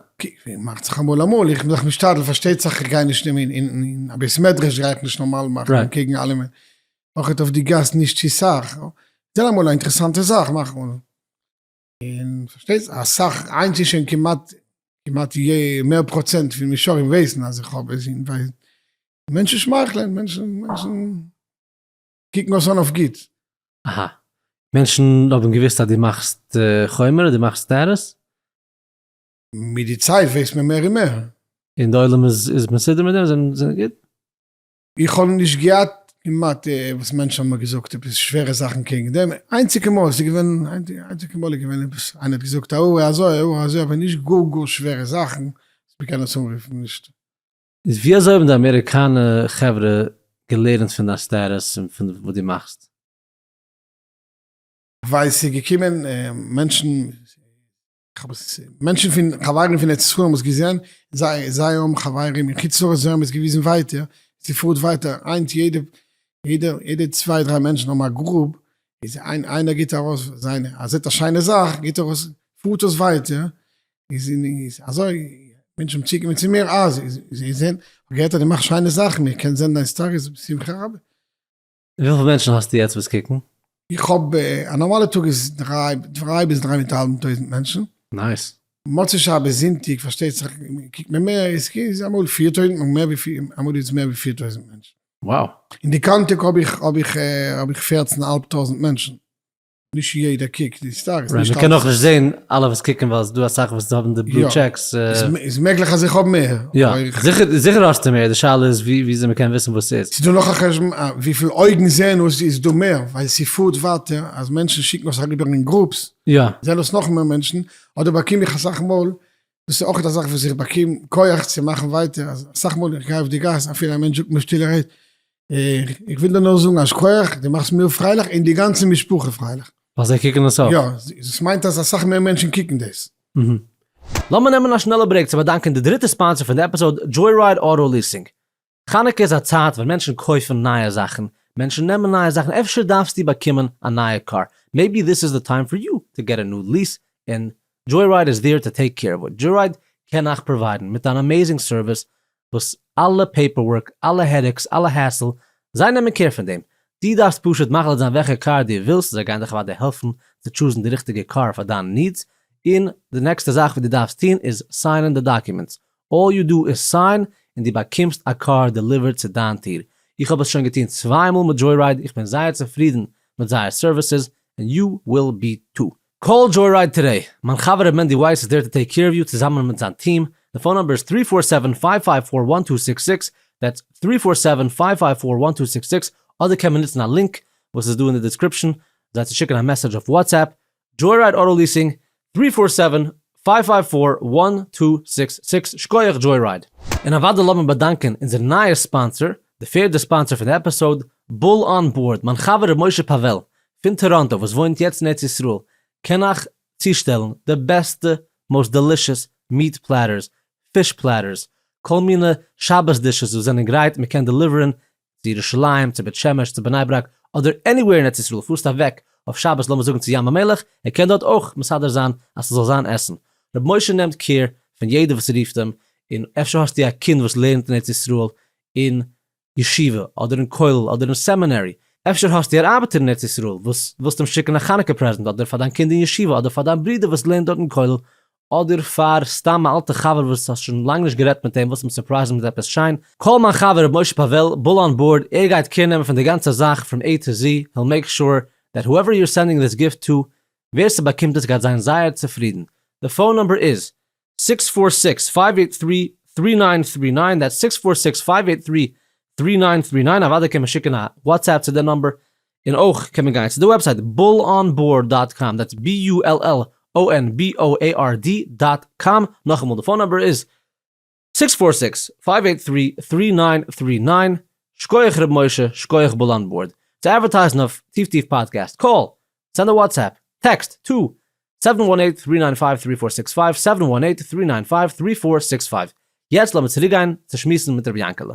מאכט זיך אמאל אמאל, איך בין דאך משתדל, פארשטייט זיך איך גיי נישט אין א בית מדרש גיי איך נישט נארמאל מאכן אנקעגן אלעמען, אויך אויף די גאס נישט צו סאך, זען אמאל א אינטערעסאנטע זאך מאך אן, און פארשטייט זיך אסאך, היינט איז שוין כמעט כמעט מער פראצענט פון משרים ווייסן אז איך האב עס, מענטשן שמייכלען, מענטשן מענטשן. קוקן עס אן אויף גוט. אהא. מענטשן האבן געוואוסט אז דו מאכסט חומר, דו מאכסט סטעטוס? מיט די צייט ווייסט מען מער און מער. און די עולם איז מסודר מיט דעם? זיי זענען גוט? איך האב נישט געהאט כמעט וואס מענטשן האבן מיר געזאגט עפעס שווערע זאכן קעגן דעם. איינציגע מאל איז געווען, איינציגע מאל איז געווען עפעס איינער האט געזאגט א הוראה אזוי, א הוראה אזוי, אבער נישט גאר גאר שווערע זאכן אז מ'קען עס אנרופן נישט. איז ווי אזוי האבן די אמעריקאנע חברה געלערנט פון דיין סטעטוס און פון וואס דו מאכסט? ווייל ס'איז געקומען מענטשן, מענטשן פון חברים פון ארץ ישראל האבן עס געזען, זיי האבן חברים אין חוץ לארץ זיי האבן עס געוויזן ווייטער, ס'פארט ווייטער, היינט יעדע צוויי דריי מענטשן האבן א גרופ, איז איינער גיבט ארויס זיינע, ער זעט א שיינע זאך גיבט ער ארויס, פארט עס ווייטער, איז אין איז אזוי מענטשן האבן צוגעקומען צו מיר אה זיי זיי זעהן כ'האב געהערט אז דו מאכסט שיינע זאכן איך קען זעהן דיין סטאריס בשמחה רבה. וויפיל מענטשן האסטו יעצט וואס קוקן? איך האב א נארמאלע טאג איז דריי דריי ביז דריי מיט א האלבן טויזנט מענטשן. נייס. מוצאי שבת זונטאג פארשטייט זיך קוקט מען מער איז איז אמאל פֿיר טויזנט אמאל מער ווי אמאל איז מער ווי פֿיר טויזנט מענטשן. וואו. אין די קאנטעק האב איך האב איך האב איך פֿערצן אהאלב טויזנט מענטשן. נישט יעדער קוקט די סטאקס. נישט אלע. מען קען אויך נישט זען אלע וואס קוקן ווייל עס איז דא אסאך וואס האבן די בלו טשעקס. איז מעגליך אז איך האב מער. יא, זיכער האסטו מער, די שאלה איז וויאזוי מען קען וויסן וואס ס'איז. ס'איז דא נאך א חשבון וויפיל אויגן זעען אויס איז דא מער, ווייל ס'פארט ווייטער אז מענטשן שיקן עס אריבער אין גרופס, זעען עס נאך מער מענטשן, אדער באקום איך אסאך מאל דאס איז אויך א זאך וואס איך באקום כח צו מאכן ווייטער, אסאך מאל איך גיי אויף די גאס אפילו א מענטש זאגט מיר שטילער העי, איך וויל דיר נאר זאגן א שכח, דו מאכסט מיר פרייליך און די גאנצע משפחה פרייליך. ווייל זיי קוקן עס אויף. יא, דאס מיינט אז אסאך מער מענטשן קוקן דאס. לאמיר נעמען א שנעלע ברעיק צו באדאנקען די דריטע ספאנסער פון די עפיסאוד, דזשוי-רייד אוטא ליעסינג. חנוכה איז א צייט ווען מענטשן קויפן נייע זאכן, מענטשן נעמען נייע זאכן, אפשר דארפסטו באקומען א נייע קאר, מעיבי דיס איז די טיים פאר יו טו געט א ניו ליס, און דזשוי-רייד איז דיר טו טעיק קעיר אוו איט, דזשוי-רייד קען אייך פראוויידן מיט אן אמעיזינג סערוויס וואס אלע פעיפער ווארק, אלע העדעקס, אלע העסל, זיי נעמען קעיר פון דעם, דו דארפסט פשוט מחליט זיין וועלכע קאר דו ווילסט, זיי גייען דיך אוודאי העלפן צו טשוזן די ריכטיגע קאר פאר דיינע נידס, און די נעקסטע זאך וואס דו דארפסט טון איז סיינען די דאקומענטס, אלל יו דו איז סיין און דו באקומסט א קאר דעליווערט צו דיין טיר. איך האב עס שוין געטון צוויי מאל מיט דזשוירייד, איך בין זייער צופרידן מיט זייער סערוויסעס, און יו וויל בי טו. קאל דזשוירייד טודעי, מיין חבר ר' מענדי ווייס איז דער טו טעיק קעיר אוו יו צוזאמען מיט זיין טיעם, די פאון נאמבער איז טרי פאר סעווען פייוו פייוו פאר וואן טו סיקס סיקס, דעטס טרי פאר סעווען פייוו פייוו פאר וואן טו סיקס סיקס, אדער קען מען נוצן א לינק וואס איז דא אין די דיסקריפשאן זיי צו שיקן א מעסעדזש אויף וואטסעפפ, דזשויראיד אוטא ליסינג, טרי פאר סעווען, פייוו פייוו פאר, וואן טו זיקס זיקס, שקויעך דזשויראיד. און אוודאי לאמיר באדאנקען אונזער נייער ספאנסער, די פערדע ספאנסער פון די עפיסאוד, בול אן בארד, מיין חבר ר' משה פאוועל, פון טאראנטא וואס וואוינט יעצט אין ארץ ישראל, קען אייך צושטעלן די בעסטע מאוסט דעלישעס מיעט פלעטערס, פיש פלעטערס, כל מיני שבת דישעס וואס זענען גרייט, מען קען דעליווערען צו ירושלים, צו בית שמש, צו בני ברק, אדער עניוועיר אין ארץ ישראל, פארסט אוועק אויף שבת לאמיר זאגן צו ים המלח, ער קען דארט אויך מסדר זיין אז ס'זאל זיין עסן. ר' משה נעמט קעיר פון יעדער וואס רופט אים, און אפשר האסטו א קינד וואס לערנט אין ארץ ישראל אין ישיבה, אדער אין כולל, אדער אין סעמינערי, אפשר האסטו אן ארבעטער אין ארץ ישראל וואס ווילסט אים שיקן א חנוכה פרעזענט, אדער פאר דיין קינד אין ישיבה, אדער פאר דיין ברודער וואס לערנט דארט אין כולל, אדער פאר סתם א אלטע חבר וואס האסט שוין לאנג נישט גערעדט מיט אים וואלסט אים סורפרייזן מיט עפעס שיין, קאל מיין חבר ר' משה פאוועל, בול אן בארד, ער גייט קעיר נעמען פון די גאנצע זאך פרום עי טו זי, היל מעיק שור דעט הועווער יו אר סענדינג דיס גיפט טו, ווער ס'באקומט עס גייט זיין זייער צופרידן. די פאון נומבער איז, סיקס פאר סיקס פייוו עיט טרי טרי ניין טרי ניין, דעטס סיקס פאר סיקס פייוו עיט טרי טרי ניין טרי ניין, אוודאי קען מען שיקן א וואטסעפפ צו די נומבער, און אויך קען מען גיין צו די וועבסייט bullonboard דאט קאם, דעטס BULLONBOARD דאט קאם, נאכאמאל די פאון נומבער איז, סיקס פאר סיקס פייוו עיט טרי טרי ניין טרי ניין, שקויעך ר' משה, שקויעך בולאנבארד, צו עדווערטייזן אויף טיף טיף פאדקעסט, קאל, סענד א וואטסעפפ, טעקסט, טא, סעווען וואן עיט טרי ניין פייוו טרי פאר סיקס פייוו, סעווען וואן עיט טרי ניין פייוו טרי פאר סיקס פייוו, יעצט לאמיר צוריקגיין צו שמועסן מיט ר' יענקעלע.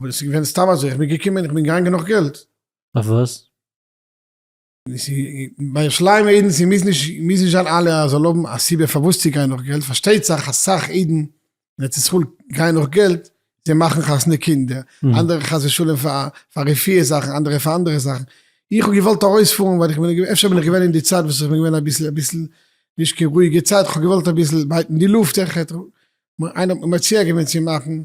אבער עס איז געווען סתם אזוי, איך בין געקומען איך בין געגאנגען נאך געלט. אויף וואס? ביי שליימער אידן ס'איז מוז נישט מוז נישט זיין אלע אז זאל האבן א סיבה פארוואס צו גיין נאך געלט, פארשטייט זיך אסאך אידן אין ארץ ישראל גייען נאך געלט זיי מאכן חתונה קינדער, אנדערע חס ושלום פאר רפואה זאכן, אנדערע פאר אנדערע זאכן, איך האב געוואלט ארויספארן ווייל איך בין אפשר בין איך געווען אין די צייט וואס איך בין געווען אביסל אביסל נישט קיין רואיגע צייט, איך האב געוואלט אביסל בייטן די לופט, איינער האט מיר מציע געווען צו מאכן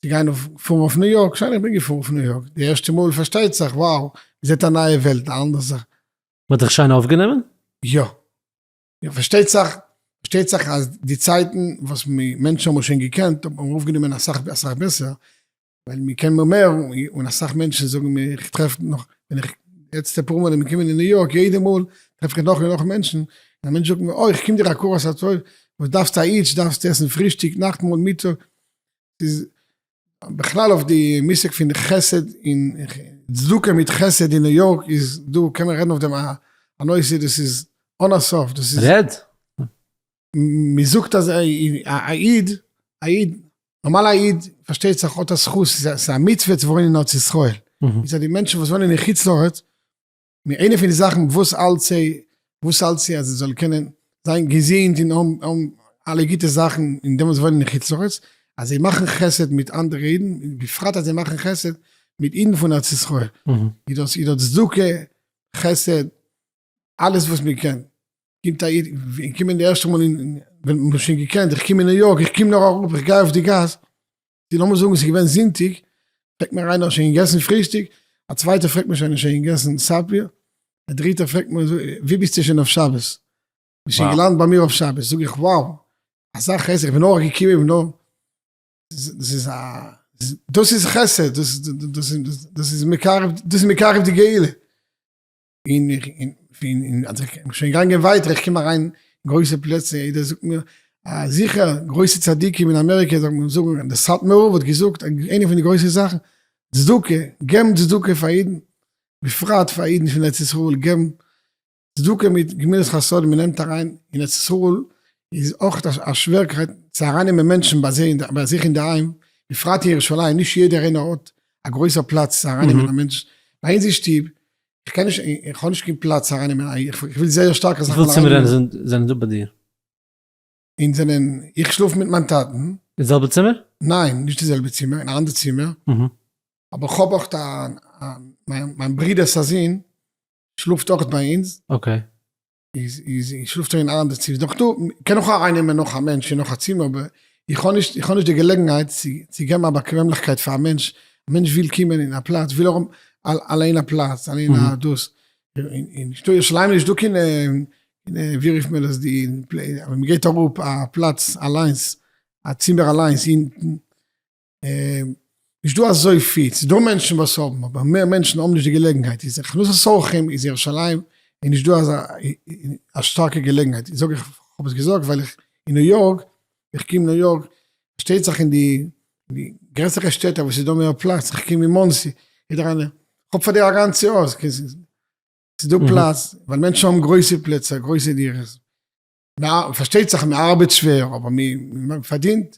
צו גיין אויף פארן אויף ניו יארק, שוין איך בין געפארן אויף ניו יארק די ערשטע מאל פארשטייט זיך וואו, געזעט א נייע וועלט א אנדער זאך. מען האט דיך שיין אויפגענומען? יא. פארשטייט זיך פארשטייט זיך אז די צייטן וואס מענטשן האבן שוין געקענט האט מען אויפגענומען אסאך אסאך בעסער, ווייל מיר קען מיר מער, און אסאך מענטשן זאגן מיר, איך טרעף נאך, ווען איך, יעצט אפאר מאל בין איך געקומען אין ניו יארק, יעדע מאל טרעף איך נאך און נאך מענטשן, און א מענטש זאגט מיר, אוי, איך קום דיר אקראס א טוב, וואס דארפסטו א אידש, דארפסטו עסן פרישטיג, נאכטמאל, מיטאג, ס'איז בכלל אויף די מושג פון חסד און צדקה מיט חסד אין ניו יארק איז דא, קען מען רעדן אויף דעם א נושא, דאס איז אן א סוף, דאס איז. רעד. מ'זאגט אז א איד, א איד, נארמאל א איד פארשטייט זיך האט א זכות, ס'איז א מצוה צו וואוינען אין ארץ ישראל, מצד די מענטשן וואס וואוינען אין חוץ לארץ, איינע פון די זאכן וואס האלט זיי, וואס האלט זיי אז זיי זאלן קענען זיין געזונט און האבן אלע גוטע זאכן אין דעם וואס זיי וואוינען אין חוץ לארץ, אז זיי מאכן חסד מיט אנדערע אידן, בפרט אז זיי מאכן חסד מיט אידן פון ארץ ישראל, איז דאס צדקה, חסד. אלעס וואס מען קען, קומט א איד, איך קום אין די ערשטע מאל אין, ווען מ'האט שוין געקענט, איך קום אין ניו יארק, איך קום נאר אראפ, איך גיי אויף די גאס, די לאמיר זאגן ס'איז געווען זונטאג, פרעגט מיר איינער האסט שוין געגעסן פרישטאג? א צווייטער פרעגט מיר שוין האסט שוין געגעסן סאפיר? א דריטער פרעגט מיר וואו ביסטו שוין אויף שבת? ביסט שוין געלאנדט ביי מיר אויף שבת? זאג איך wow, אזא חסד, איך בין נאר געקומען, איך בין נאר, דאס איז א, דאס איז חסד, דאס איז מקרב, דאס איז מקרב די גאולה. און איך בין שוין געגאנגען ווייטער, איך קום אריין גרויסע פלעצער, יעדער זאגט מיר אז זיכער גרויסע צדיקים אין אמעריקע זאגט מען זאגן, דער סאטמאר רב האט געזאגט איינע פון די גרויסע זאכן, צדקה, געבן צדקה פאר אידן, בפרט פאר אידן פון ארץ ישראל, געבן צדקה מיט גמילות חסדים, מען נעמט אריין, אין ארץ ישראל איז אויך א שווערקייט צו אריינעמען מענטשן ביי זיי, ביי זיך אינדערהיים, בפרט אין ירושלים, נישט יעדער איינער האט א גרויסע פלאץ צו אריינעמען א מענטש, ביי אונז אין שטוב, איך קען נישט, איך האב נישט קיין פלאץ אריין אין מיין אייגענע, איך וויל זייער שטארק אזאך וויפיל צימערען זענען דא ביי דיר? אונז זענען, איך שלאף מיט מיין טאטן. אין די זעלבע צימער? ניין, נישט די זעלבע צימער, אין א אנדער צימער. אבער איך האב אויך א, מיין ברודער'ס א זון שלאפט אויך ביי אונז. אקעי. איז איז שלאפט שוין אין א אנדער צימער דאך דא קען איך אויך אריינעמען נאך א מענטש אין נאך א צימער אבער איך האב נישט איך האב נישט די געלעגנהייט צו געבן א באקוועמליכקייט פאר א מענטש, א מענטש וויל קומען אין א פלאץ וויל ער האבן אליין א פלאץ אליין א דאס, אין נישטא ירושלים איז נישטא קיין ווי רופט מען דאס די ווען מ'געט אראפ א פלאץ אליינס א צימער אליינס אינטן. נישט דא אזויפיל, ס'איז דא מענטשן וואס האבן, אבער מער מענטשן האבן נישט די געלעגנהייט, איז הכנסת אורחים איז ירושלים איז נישט דא אזא א שטארקע געלעגנהייט, זאג איך כ'האב עס געזאגט ווייל איך אין ניו יארק, איך קום ניו יארק, פארשטייט זיך אין די גרעסערע שטעטער וואס איז דא מער פלאץ, איך קום אין מאנסי, יעדער איינער, כ'האב פאר דיר א גאנצע הויז, ס'איז דא פלאץ, ווייל מענטשן האבן גרויסע פלעצער, גרויסע דירות, פארשטייט זיך מ'ארבעט שווער אבער מ'פארדינט.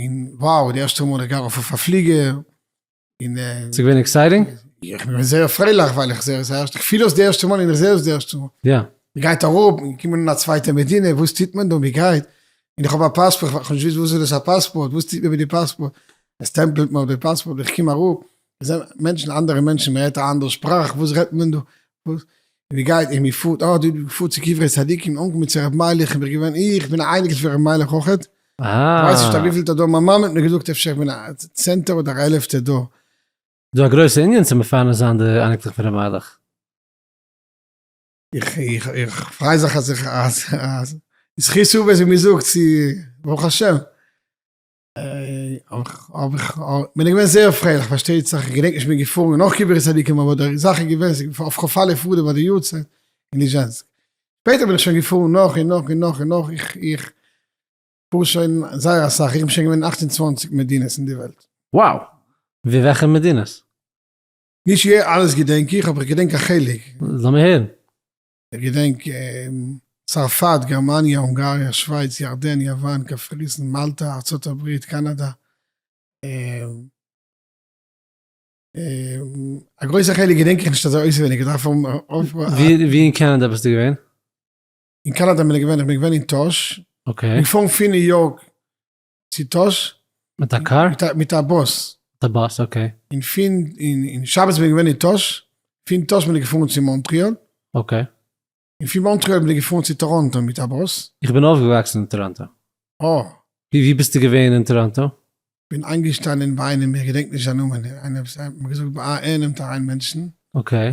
און wow די ערשטע מאל איך גיי ארויף אויף א פליגער און ס'איז געווען עקסייטינג? איך בין געווען זייער פרייליך ווייל איך זעה עס די ערשטע איך פיל עס די ערשטע מאל און איך זעה עס די ערשטע מאל. יא. מ'גייט אראפ, מ'קומט אן אין א צווייטע מדינה, וואס טוט מען דא, מ'גייט, און איך האב א פאספארט, כ'האב נישט געוואוסט וואס איז דאס א פאספארט, וואס טוט מען מיט די פאספארט, עס סטעמפלט מען אויף די פאספארט, איך קום אראפ, זענען מענטשן אנדערע מענטשן מען רעדט א אנדערע שפראך וואס רעדט מען דא וואס ווי גייט און ווי פארט אה דו פארט צו קברי צדיקים אנגעקומען צו רבי מיילעך איך בין געווען איך בין א אייניקל פון רבי מיילעך אויכעט איך ווייס נישט א וויפילטע דור מיין מאמע האט מיר געזאגט אפשר איך בין א צענטע אדער א עלעפטע דור. דא א גרויסע ענין צו מפרנס זיין די אייניקלעך פון רבי מיילעך. איך פריי זיך אז איך אז זכות הוא ווער ס'מיר זאגט צו ברוך השם. כ'בין געווען זייער פרייליך פארשטייט זיך, כ'געדענק נישט כ'בין געפארן נאך קברי צדיקים אבער די זאך איז געווען ס'איז געווען אויף כ'פאל אויף אדר ביי די יארצייט אין ליזשענסק, שפעטער בין איך שוין געפארן נאך און נאך און נאך און נאך, איך פאר שוין זייער אסאך, איך בין שוין געווען אין אַכט און צוואַנציק מדינות אין די וועלט. וואו? ווי וועלכע מדינות? נישט אלעס געדענק איך אבער איך געדענק א חלק. לאמיר הערן. איך געדענק צרפת, גערמאניע, הונגאריע, שווייץ, ירדן, יוון, קפריסין, מאלטא, ארצות הברית, קאנאדא, א גרויסע חלק געדענק איך נישט אזוי אויסעווייניג, איך דארף אויפפרעשן. ווי אין קאנאדא ביסטו געווען? אין קאנאדא בין איך געווען, איך בין געווען אין טאהש, איך בין געפארן פון ניו יארק צו טאהש. מיט א קאר? מיט א באס. מיט א באס, אקעי. און פון, און שבת בין איך געווען אין טאהש, פון טאהש בין איך געפארן צו מאנטריאל. אקעי. און פון מאנטריאל בין איך געפארן צו טאראנטא מיט א באס. איך בין אויפגעוואקסן אין טאראנטא. אה. ווי, ווי ביסטו געווען אין טאראנטא? בין איינגעשטאנען ביי איינעם, איך געדענק נישט זיין נאמען, איינער וואס, מ'האט געזאגט ביי א, ער נעמט אריין מענטשן. אקעי.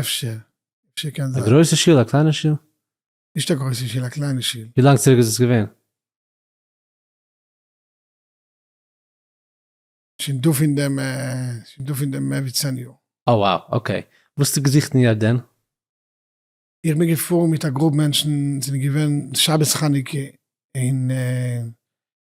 אפשר, אפשר קען זיין. א גרויסע שול א קליינע שול? נישט א גרויסע שול א קליינע שול. ווי לאנג צוריק איז עס געווען? שוין דא פון דעם שוין דא פון דעם מער ווי צען יאר. אה wow אקעי. וואס האסטו געזוכט אין ירדן? איך בין געפארן מיט א גרופ מענטשן, זענען געווען שבת חנוכה אין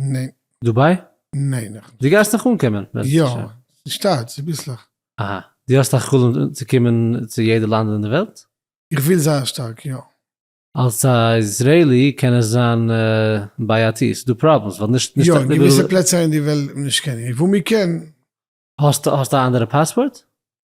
ניין. דובאי? ניין נאך נישט. דו גייסט נאך אנקומען בעזרת השם. יא, ס'שטארט, ס'ביסלעך. אהא, דו האסט א חלום צו קומען צו יעדע לאנד אין די וועלט? איך וויל זייער שטארק, יא. אלס א איזרעילי קען עס זיין בעייתי, ס'איז דא פראבלעמס ווייל נישט נישט א. יא, געוויסע פלעצער אין די וועלט נישט קען איך, וואו מ'קען. האסט האסט א אנדערע פאספארט?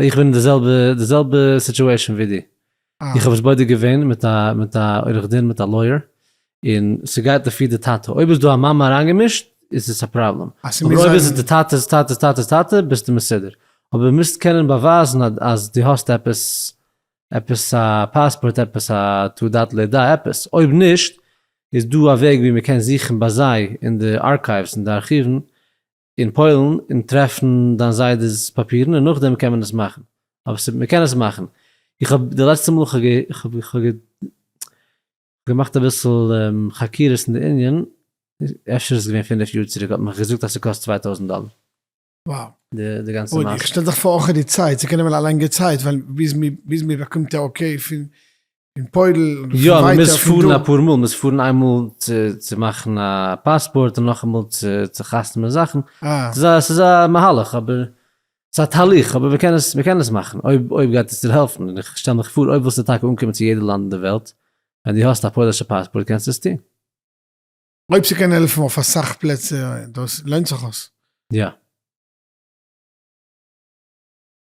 איך בין אין די זעלבע די זעלבע סיטועשען ווי דו, איך האב עס בודק געווען מיט א מיט א עורך דין מיט א לויער, און ס'גייט לפי די טאטע, אויב איז דא א מאמע אריינגעמישט איז עס א פראבלעם, אז ס'מוז אבער אויב איז זיין עס די טאטע'ס טאטע'ס טאטע'ס טאטע ביסטו מסודר, אבער מוזט קענען באווייזן א אז דו האסט עפעס עפעס א פאספארט עפעס א תעודת לידה עפעס, אויב נישט איז דא א וועג ווי מ'קען זוכן ביי זיי אין די ארקייווס אין די ארכיוון אין פוילן און טרעפן דיין זיידעס פאפירן און נאכדעם קען מען עס מאכן אבער ס'איז מ'קען עס מאכן איך האב די לעצטע מאל כ'האב געמאכט אביסל חקירות אין די ענין אפשר איז עס געווען פֿינף יאר צוריק האט מען מיך געזאגט אז ס'קאסט צוויי טויזנט דאלער די גאנצע מעשה. אוי איך שטעל זיך פאר אויך די צייט ס'קען נעמען א לאנגע צייט ווייל ביז מ'באקומט די אקעי פון אין פוירל אדער פון ווייטער פון דא. יא, מ'מוז פארן אפאר מאל, מ'מוז פארן איינמאל צו מאכן א פאספארט און נאכאמאל צו חתמ'ן זאכן. ס'איז א מהלך אבער, ס'איז א תהליך אבער מ'קען עס, מ'קען עס מאכן אויב, אויב גייט עס דיר העלפן. און איך שטעל מיך פאר אויב ווילסטו טאקע אנקומען צו יעדע לאנד אין די וועלט, ווען דו האסט א פוילישע פאספארט קענסטו עס טון. אויב ס'קען העלפן אויף אסאך פלעצער, דאס לוינט זיך אויס. יא.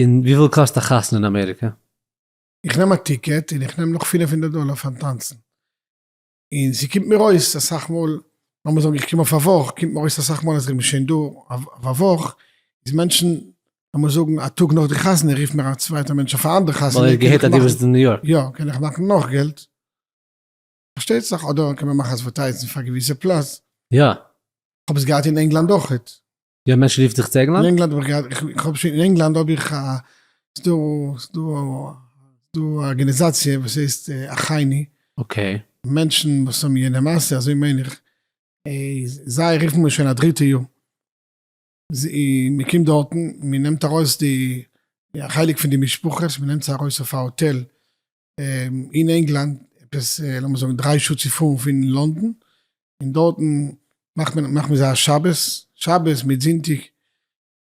און וויפיל קאסט א חתונה אין אמעריקע? איך נעם א טיקעט און איך נעם נאך פינף הונדערט דאלער פארן טאנצן, און ס'קומט מיר אויס אסאך מאל, לאמיר זאגן איך קום אויף א וואך, קומט מיר אויס אסאך מאל אז איך בין שוין דא אויף א וואך, איז מענטשן, לאמיר זאגן א טאג נאך די חתונה רופט מיר א צווייטער מענטש אויף א אנדערע חתונה, ווייל ער האט געהערט אז דו ביסט אין ניו יארק, יא, קען איך מאכן נאך געלט, פארשטייט זיך, אדער קען מען מאכן אדווערטייזן פאר געוויסע פלאץ, יא. כ'האב עס געהאט אין ענגלאנד אויכעט, יא מענטשן רופט זיך צו ענגלאנד? אין ענגלאנד האב איך געהאט, איך האב שוין אין ענגלאנד האב איך א, ס'דא ס'דא ס'דא א ארגענעזאציע וואס הייסט אחייני. אקעי. מענטשן וואס האבן יענע מעשה אזוי מיין איך, זיי רופן מיר שוין א דריטע יאר, מ'קומט דארטן מ'נעמט ארויס די, א חלק פון די משפחות מ'נעמט זיי ארויס אויף א האטעל, אין ענגלאנד, עפעס לאמיר זאגן דריי שעה צו פארן פון לונדון, און דארטן מאכט מען מאכט מען זיי א שבת, שבת מיט זונטאג,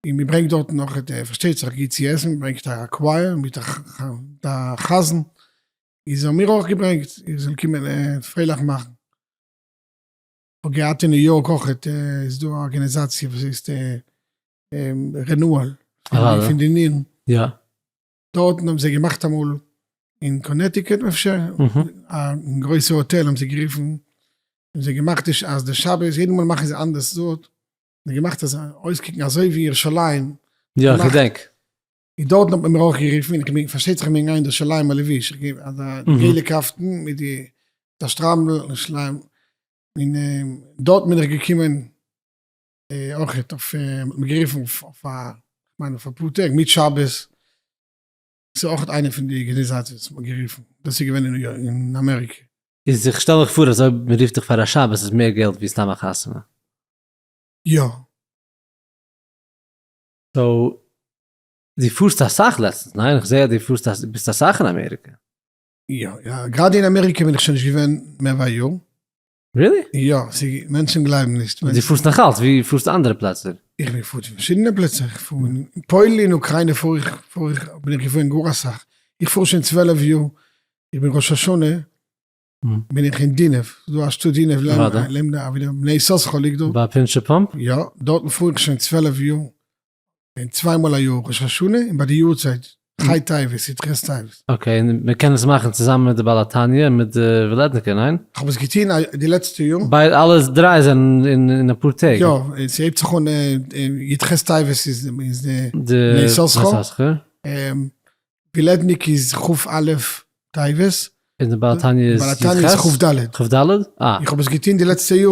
און מען ברענגט דארטן נאך ע ד פארשטייט זיך גוט צו עסן, מען ברענגט א קווייער מיט א חזן, איז האבן מיר אויך געברענגט ער זאל קומען פרייליך מאכן. כ'האב געהאט אין ניו יארק אויך ע ט איז דא א ארגענעזאציע וואס הייסט רענועל פון די נירן. דארטן האבן זיי געמאכט אמאל אין קאנעטיקעט אפשר, א גרויסע האטעל האבן זיי גערופן, האבן זיי געמאכט די ש אז די שבת, יעדע מאל מאכן זיי אנדערש דארט, האבן געמאכט אז אויסקוקן אזוי ווי ירושלים. יא, איך געדענק. און דארטן האט מען מיר אויך גערופן, און כ'בין, פארשטייט זיך כ'בין געגאנגען אין די שליימער לבוש, איך גיי אזא געלע קאפטן מיט די די שטריימל און שליימער, און דארט בין איך געקומען. אויך האט מען גערופן אויף א, כ'מיין אויף אפאר טעג, מיט שבת, ס'איז אויך איינע פון די ארגענעזאציעס וואס מ'האט גערופן, דאס איז געווען אין אמעריקע. איז איך שטעל מיך פאר אז אויב מ'רופט דיך פאר א שבת איז מער געלט ווי סתם א חתונה. יא. סאו דו פארסט אסאך לעצטענס, ניין? איך זעה אז דו פארסט אסאך, ביסט אסאך אין אמעריקע. יא, גראדע אין אמעריקע בין איך שוין נישט געווען מער ווי א יאר. ריעלי? יא, ס'איז גוט, מענטשן גלייבן נישט. די פארסט נאכאלץ? ווי פארסטו אנדערע פלעצער? איך בין געפארן צו פארשידענע פלעצער, איך פאר אין פוילן אין אוקריינע פאר איך, פאר איך, בין איך געפארן גאר אסאך, איך פאר שוין צוועלף יאר, איך בין ראש השנה בין איך אין דינעוו, ס'איז דא א שטאט דינעוו לעמדא, לעמדא אבי די בני יששכר ליגט דארט. ביי פינטשער פאמפ? יא, דארטן פאר איך שוין צוועלף יאר, און צוויי מאל א יאר ראש השנה און ביי די יארצייט חי טייבעס יתכן סטייבעס. אקעי און מען קען עס מאכן צוזאמען מיט די בעל התניא און מיט די וועלעדניקער ניין? כ'האב עס געטוהן די לעצטע יאר. ביי אלע דריי זענען אין אפאר טעג? יא ס'הייבט זיך אן יתכן סטייבעס איז די נר יששכר, וילעדניק איז כ' א' טבת, און די בעל התניא איז כ' ד', איך האב עס געטוהן די לעצטע יאר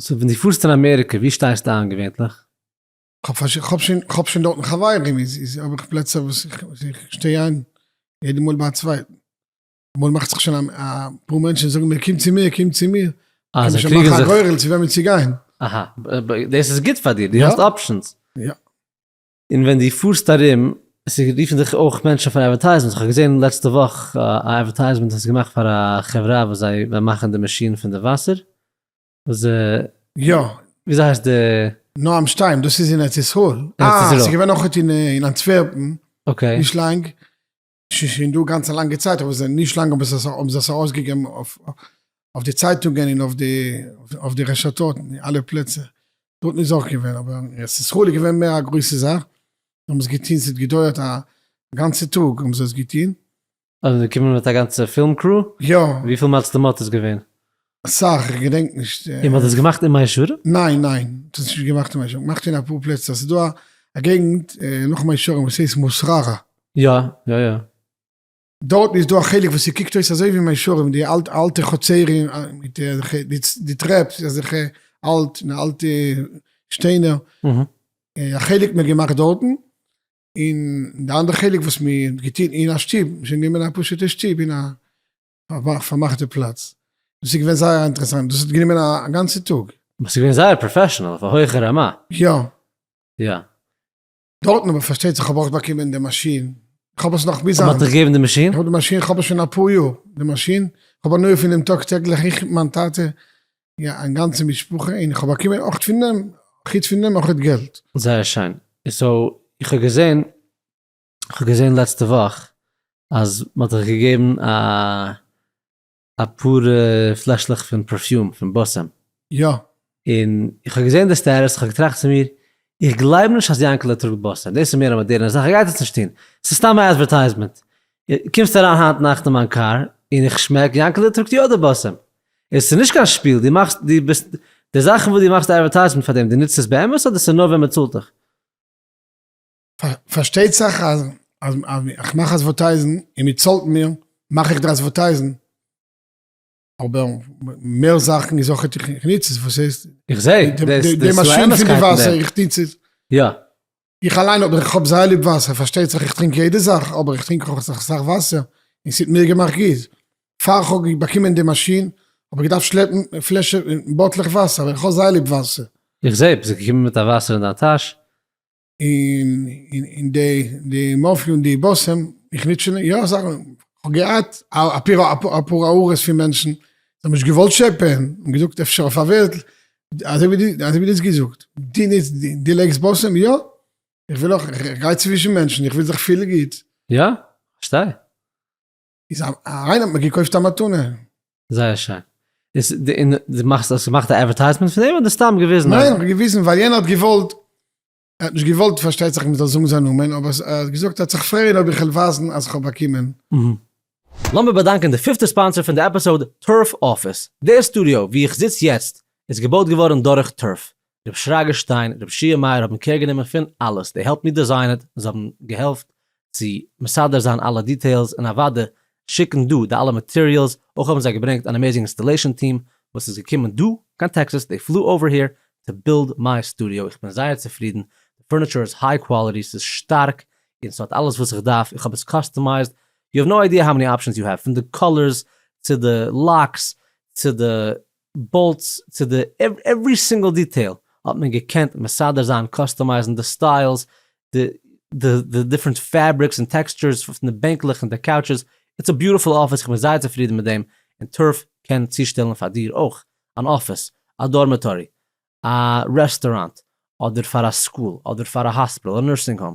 סאו ווען דו פארסט אין אמעריקע ווי שטייסטו איין געווענטליך? כ'האב שוין דארטן חברים, איז האב איך פלעצער וואס איך שטיי איין יעדע מאל ביי א צווייטן. אמאל מאכט זיך שוין אפאר מענטשן זאגן מיר קום צו מיר, קום צו מיר. קען מען שוין מאכן א גורל צו וועמען צו גיין. אהא, דאס איז גוט פאר דיר, דו האסט אפשענס. יא. און ווען דו פארסט ארום, עס איז רופן דיך אויך מענטשן פאר אדווערטייזמענטס, איך האב געזען לעצטע וואך א אדווערטייזמענט וואס איז געמאכט פאר א חברה וואס זיי וועלן מאכן די מאשין פון די וואסער, וואס די, יא. וויאזוי הייסט די. נועם שטיין, דאס איז אין ארץ ישראל. ארץ ישראל. אה, ס'איז געווען אויכעט אין אנטווערפן. אקעי. נישט לאנג. ס'איז שוין דא גאנץ א לאנגע צייט אבער זיי נישט לאנג האבן זיי עס ארויסגעגעבן אויף אויף די צייטונגען און אויף די אויף די רשתות און אלע פלעצער. דארטן איז אויך געווען אבער עס איז חולי' געווען מער א גרויסע זאך. זיי האבן עס געטוהן ס'האט געדויערט א גאנצע טאג האבן זיי עס געטוהן. און געקומען מיט א גאנצע פילם קרו? יא. וויפיל מצלמות איז געווען? אסאך, איך געדענק נישט. און מ'האט עס געמאכט אין מאה שערים? ניין ניין, מ'האט עס נישט געמאכט אין מאה שערים, געמאכט אין אפאר פלעצער, ס'איז דא א געגנט נאך מאה שערים וואס הייסט מוסררה. יא יא יא. דארטן איז דא א חלק וואס ס'קוקט אויס אזוי ווי מאה שערים, די אלטע חצרים מיט די טרעפ אזעלכע אלט און אלטע שטיינער, א חלק האט מען געמאכט דארטן, און די אנדערע חלק וואס מ'האט געטון אין א שטוב, מ'האט גענומען א פשוט'ע שטוב אין א פארמאכט די פלאץ. דאס איז געווען זייער אינטערעסאנט, דאס האט גענומען א גאנצע טאג. אבער ס'איז געווען זייער פראפעשענעל, אויף א הויכע רמה. יא. יא. דארטן אבער פארשטייט זיך האב איך באקומען די מאשין, איך האב עס נאך ביז היינט. מ'האט דיך געגעבן די מאשין? איך האב די מאשין, איך האב עס שוין אפאר יאר, די מאשין, איך האב הנאה פון דעם טאג טעגליך, איך, מיין טאטע, א גאנצע משפחה, און איך האב באקומען אויך פון דעם, חוץ פון דעם אויך געלט. זייער שיין. סאו, איך האב געזען כ'האב געזען לעצטע וואך אז מ'האט זיך געגעבן א אפאר פלעשלעך פון פערפיום פון באסעם. יא. און איך האב געזען די סטעטוס, כ'האב געטראכט צו מיר, איך גלייב נישט אז יענקעלע טראגט באסעם, דאס איז מער א מאדערנע זאך, ער גייט עס נישט טון, ס'איז סתם א עדווערטייזמענט. קומסט אריין היינט נאכט אין מיין קאר, און איך שמעק יענקעלע טראגט יא די באסעם. און ס'איז נישט קיין שפיל, דו מאכסט, דו ביסט, די זאכן וואס דו מאכסט די עדווערטייזמענט פאר דעם, דו נוצט עס באמת אדער ס'איז נאר ווען מ'צאלט דיך? פארשטייט זיך אז איך מאך אדווערטייזן און מען צאלט מיר, מאך איך די אדווערטייזן, אבער מער זאכן איז אויך איך ניץ עס, וואס הייסט? איך זע די מאשין פון די וואסער, איך ניץ עס. יא. איך אליין האב, איך האב זייער ליב וואסער, פארשטייט זיך איך טרינק יעדע זאך, אבער איך טרינק אויך אסאך וואסער, און ס'האט מיר געמאכט גוט. פאר כ'האב באקומען די מאשין, האב איך געדארפט שלעפן פלעשע, באטלעך וואסער, ווייל איך האב זייער ליב וואסער. איך זע, ביסט געקומען מיט א וואסער אין דיין טאש, און די מאפיא און די באסעם, איך ניץ שוין יא זאכן, כ'האב געהאט אפאר הערות פון מענטשן, זיי האבן נישט געוואלט טשעפען, און געזאגט אפשר אויף א ווערטל, אזוי ווי דו האסט געזאגט, דו ניצט, דו לייגסט באסעם, יא, איך וויל אויך, איך גיי צווישן מענטשן, איך וויל זיך פילן גוט. יא, כ'פארשטיי. איז א איינער האט מיר געקויפט א מתנה. זייער שיין. איז די אין די מאכסט האסט געמאכט א עווערטייזמענט פון דעם אדער סתם געוויזן א. ניין כ'האב געוויזן ווייל יענער האט געוואלט, ער האט נישט געוואלט פארשטייט זיך מ'זאל זאגן זיין נאמען, אבער ער האט געזאגט ער האט זיך פרייען אויב איך וועל ווייזן אז כ'האב באקומען. לאמיר באדאנקען די פיפטע ספאנסער פון די עפיסאוד, טורף אפיס. דער סטודיאו וואו איך זיץ יעצט איז געבויט געווארן דורך טורף. רב שרגא שטיין, רב שיע מאיר האבן קער גענומען פון אלעס, דעי העלפ מי דעזיין איט, זיי האבן געהעלפט צו מסדר זיין אלע דיטעילס און אוודאי שיקן דא די אלע מאטעריעלס, אויך האבן זיי געברענגט אן עמעיזינג אינסטעלעישאן טיעם וואס איז געקומען דא קיין טעקסעס, דעי פלו אווער העיר טו בילד מיי סטודיאו, איך בין זייער צופרידן, די פורניטשור איז היי קוואליטי, ס'איז שטארק און ס'האט אלעס וואס איך דארף, איך האב עס קאסטומייזד, יו העוו נאו איידיע האו מעני אפשענס יו העוו, פון די קאלערס צו די לאקס צו די בולטס צו די עווערי סינגל דיטעיל האט מען געקענט מסדר זיין קאסטומייזן די סטיילס די די די דיפרענט פעבריקס און טעקסטשורס פון די בענקלעך און די קאוטשעס איטס א ביוטעפול אפיס איך בין זייער צופרידן מיט דעם און טרף קען צושטעלן פאר דיר אויך אן אפיס א דארמעטארי א רעסטוראנט אדער פאר א סקול אדער פאר א האספיטאל אדער נורסינג האום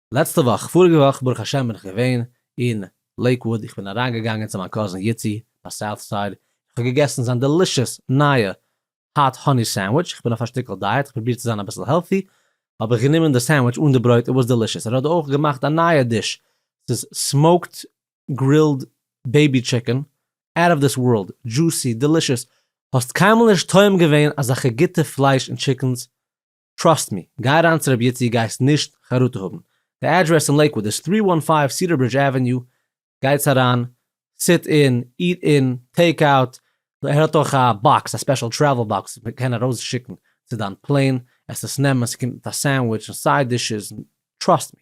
לעצטע וואך, פאריגע וואך ברוך השם בין איך געווען אין לעיקוואוד, איך בין אריין געגאנגען צו מיין קאזין איצי ביי סאוט סייד, איך האב געגעסן זיין דעלישעס נייע האט האני סענדוויטש, איך בין אויף א שטיקל דייעט, איך פרוביר צו זיין אביסל העלטי, האב איך גענומען די סענדוויטש אן די ברויט, איט וואס דעלישעס, ער האט אויך געמאכט א נייע דיש, ס'איז סמאוקד גרילד בעיבי טשיקען, אוט אוו דיס ווארלד, דזשוסי, דעלישעס, האסט קיינמאל נישט טועם געווען אזעלכע גוטע פלייש און טשיקענס טראסט מי, גיי אריין צו רבי איצי גייסט נישט חרטה האבן, די אדרעס אין לעיקוואד איז טרי וואן פייוו סידער ברידזש עוועניו, גייטס אריין, סיט אין, איט אין, טעיק אוט, ער האט אויך א באקס, א ספעשל טרעוול באקס וואס מען קען ארויס שיקן צו דיין פלעין עסעס נעמען, ס'קומט מיט א סענדוויטש און סייד דישעס, טראסט מי.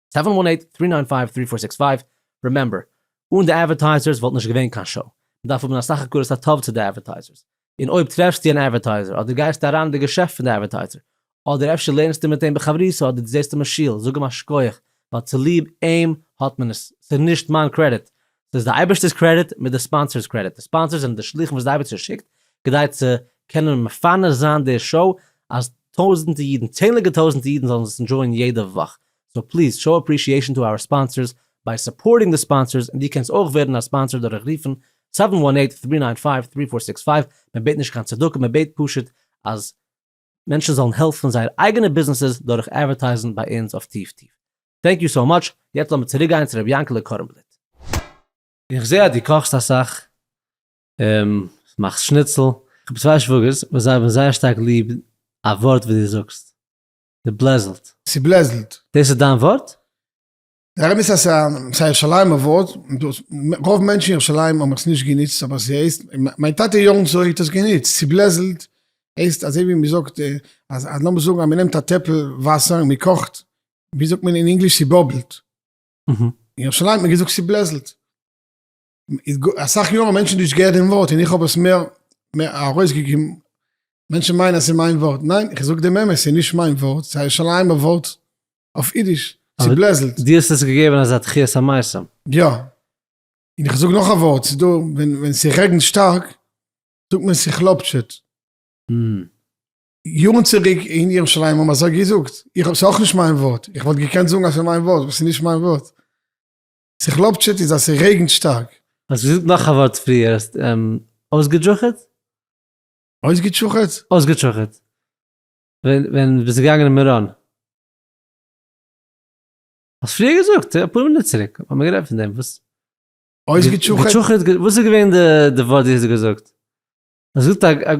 סעווען וואן עיט טרי ניין פייוו טרי פאר סיקס פייוו רימעמבער אן די אדווערטייזערס וואלט נישט געווען קיין שאו מען דארף האבן א סך הכרת הטוב צו די אדווערטייזערס און אויב טרעפסטו אן אדווערטייזער אדער גייסטו אריין אין די געשעפט פון די אדווערטייזער אדער אפשר לערנסטו מיט אים בחברותה אדער דו זעסט אים אין שול זאג אים א שכוח ווייל צוליב אים האט מען עס ס'איז נישט מיין קרעדיט ס'איז די אייבערשטער'ס קרעדיט מיט די ספאנסער'ס קרעדיט, די ספאנסער'ס זענען די שלוחים וואס די אייבערשטער שיקט כדי צו קענען מפרנס זיין די שאו אז טויזענטע אידן, צענליגע טויזענטע אידן זאלן עס ענדשויען יעדע וואך, סאו פליז שאו אפרישיעישאן טו אווער ספאנסער'ס ביי סופארטינג די ספאנסער'ס, און דו קענסט אויך ווערן א ספאנסער דורך רופן זיבן וואן עיט, טרי ניין פייוו, טרי פאר סיקס פייוו, מען בעט נישט קיין צדקה, מען בעט פשוט אז. מענטשן זאלן העלפן זייער אייגענע ביזנעסעס דורך אדווערטייזן ביי אונז אויף טיף טיף. טענק יו סאו מאטש, יעצט לאמיר צוריק גיין צו ר' יענקעלע קארנבליט. איך זעה אז דו קאכסט אסאך, מאכסט שניצל. איך האב צוויי שוואגערס וואס זיי האבן זייער שטארק ליב א ווארט וואס דו זאגסט, ס'בלעזלט. ס'בלעזלט. דאס איז דיין ווארט? דער אמת אז ס'איז א ירושלימ'ע ווארט, רוב מענטשן אין ירושלים האבן עס נישט גענוצט אבער ס'הייסט, מיין טאטע יארן צוריק האט עס גענוצט, צוברעזלט הייסט אזוי ווי מ'זאגט אז לאמיר זאגן אז מ'נעמט א טעפל וואסער און מ'קאכט, ווי זאגט מען אין ענגליש ס'באבלט, אין ירושלים האט מען געזאגט ס'ברעזלט. אסאך יארן האבן מענטשן נישט געהערט דעם ווארט און איך האב עס מער ארויסגעגעבן, מענטשן מיינען אז ס'איז מיין ווארט, ניין, איך זאג דעם אמת, ס'איז נישט מיין ווארט, ס'איז א ירושלימ'ע ווארט. אויף אידיש, צובלעזלט. דו האסט עס געגעבן אזא תחיית המתים. יא. און איך זאג נאך א ווארט, ס'איז דא ווען ווען ס'רעגנט שטארק, זאגט מען ס'כלאפטשעט. יארן צוריק אין ירושלים האבן אזוי געזאגט. איך האב, ס'איז אויך נישט מיין ווארט. איך וואלט געקענט זאגן אז ס'איז מיין ווארט, אבער ס'איז נישט מיין ווארט. ס'כלאפטשעט איז אז ס'רעגנט שטארק. האסט געזאגט נאך א ווארט פריער, האסט אויסגעטשוכעט? אויסגעטשוכעט? אויסגעטשוכעט. ווען ביסטו געגאנגען אין מירון? האסט פריער געזאגט, אפאר מינוט צוריק האט מען מיר גערעדט פון דעם, וואס? אויסגעטשוכעט? געטשוכעט, וואס איז געווען די ווארט די האסט געזאגט? האסט געזאגט א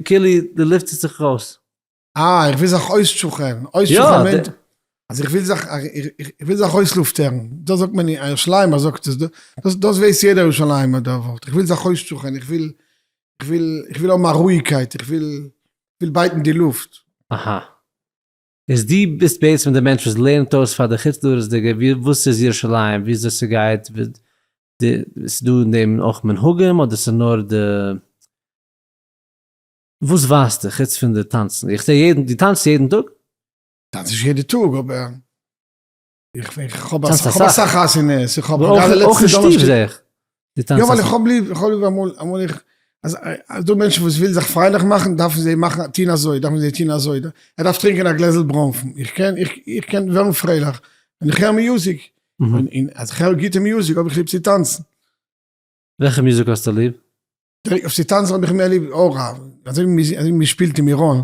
כאילו די לופט ציט זיך ארויס. אה, איך וויל זיך אויסטשוכערן. אויסטשוכערן מיינט אז איך וויל זיך איך וויל זיך אויסלופטערן. דאס זאגט מען אין ירושלימ'ער זאגט עס. דאס ווייס יעדער ירושלימ'ער דער ווארט. איך וויל זיך אויסטשוכערן, איך וויל איך וויל איך וויל האבן א רואיגקייט, איך וויל וויל בייטן די לופט. אהא. איז דו ביסט בעצם די מענטש וואס לערנט אויס פאר די חוץ לארץ'דיגע ווי וואס איז ירושלים ווי אזוי ס'גייט ווי די ס'איז דא אין דעם אויך מנהגים אדער ס'איז נאר די וואס ווייסטו חוץ פון די טאנצן איך זע יעדן דו טאנצסט יעדן טאג? טאנץ נישט יעדע טאג אבער איך האב אסאך חתונות, איך האב געווען אויך אין שטוב זעה איך. יא ווייל איך האב ליב, איך האב ליב אמאל, אמאל איך, אז דא מענטשן וואס ווילן זיך פרייליך מאכן דארפן זיי מאכן טוהן אזוי, דארפן זיי טוהן אזוי, ער דארף טרינקען א גלעזל ברוינפן, איך קען, איך קען ווערן פרייליך ווען איך הער מיוזיק, און אז איך הער גוטע מיוזיק האב איך ליב צו טאנצן. וועלכע מיוזיק האסטו ליב? אויף צו טאנצן האב איך מער ליב או רב, אזוי ווי מען שפילט אין מירון,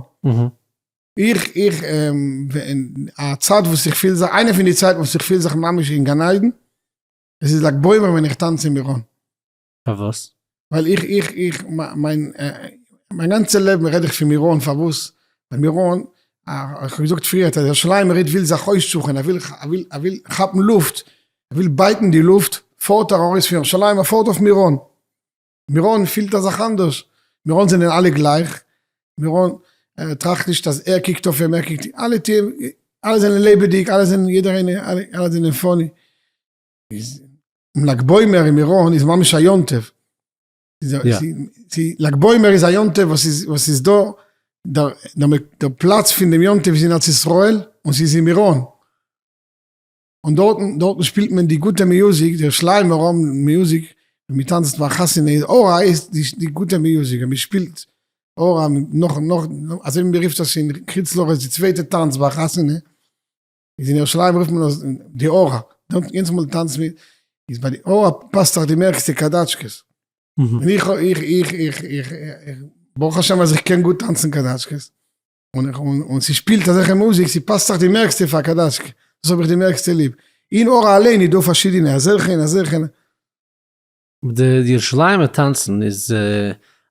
איך, איך, א צייט וואס איך פיל זיך, איינע פון די צייטן וואס איך פיל זיך ממש אין גן עדן, עס איז לג בעומר ווען איך טאנץ אין מירון. פארוואס? ווייל איך, איך, איך, מיין, מיין גאנצע לעבן רעד איך פון מירון, פארוואס? ווייל מירון, איך האב געזאגט פריער, דער שליימער איד וויל זיך אויסטשוכען, ער וויל, ער וויל, ער וויל כאפן לופט, ער וויל בייטן די לופט, פארט ער ארויס פון ירושלים, ער פארט אויף מירון, מירון פילט א זאך אנדערש, מירון זענען אלע גלייך, מירון ער טראכט נישט אז ער קוקט אויף אים, ער קוקט אים, אלע טוען, אלע זענען לעבעדיג, אלע זענען יעדער איינער, אלע זענען פאני, איז לג בעומר אין מירון איז ממש א יום טוב, לג בעומר איז א יום טוב וואס איז דא, דער פלאץ פון דעם יום טוב איז אין ארץ ישראל און ס'איז אין מירון. און דארטן דארטן שפילט מען די גוטע מיוזיק די שליימער האבן מיוזיק ווען מען טאנצט ביי א חתונה איז הוראה איז די גוטע מיוזיק ווען מען שפילט הוראה נאך נאך אזוי ווי מען רופט עס אין קרית לארץ די צווייטע טאנץ ביי א חתונה איז אין ירושלים רופט מען עס די הוראה דארט יענץ מאל טאנצט מען איז ביי די הוראה פאסט זיך די מערסטע קאדאטשקעס און איך איך איך איך איך ברוך השם אז איך קען גוט טאנצן קאדאטשקעס און איך און און ס'שפילט אזעלכע מוזיק ס'פאסט זיך די מערסטע פאר קאדאשקע דאס האב איך די מערסטע ליב אין אור אליין איז דא פארשידענע אזעלכע און אזעלכע. די ירושלימ'ע טאנצן איז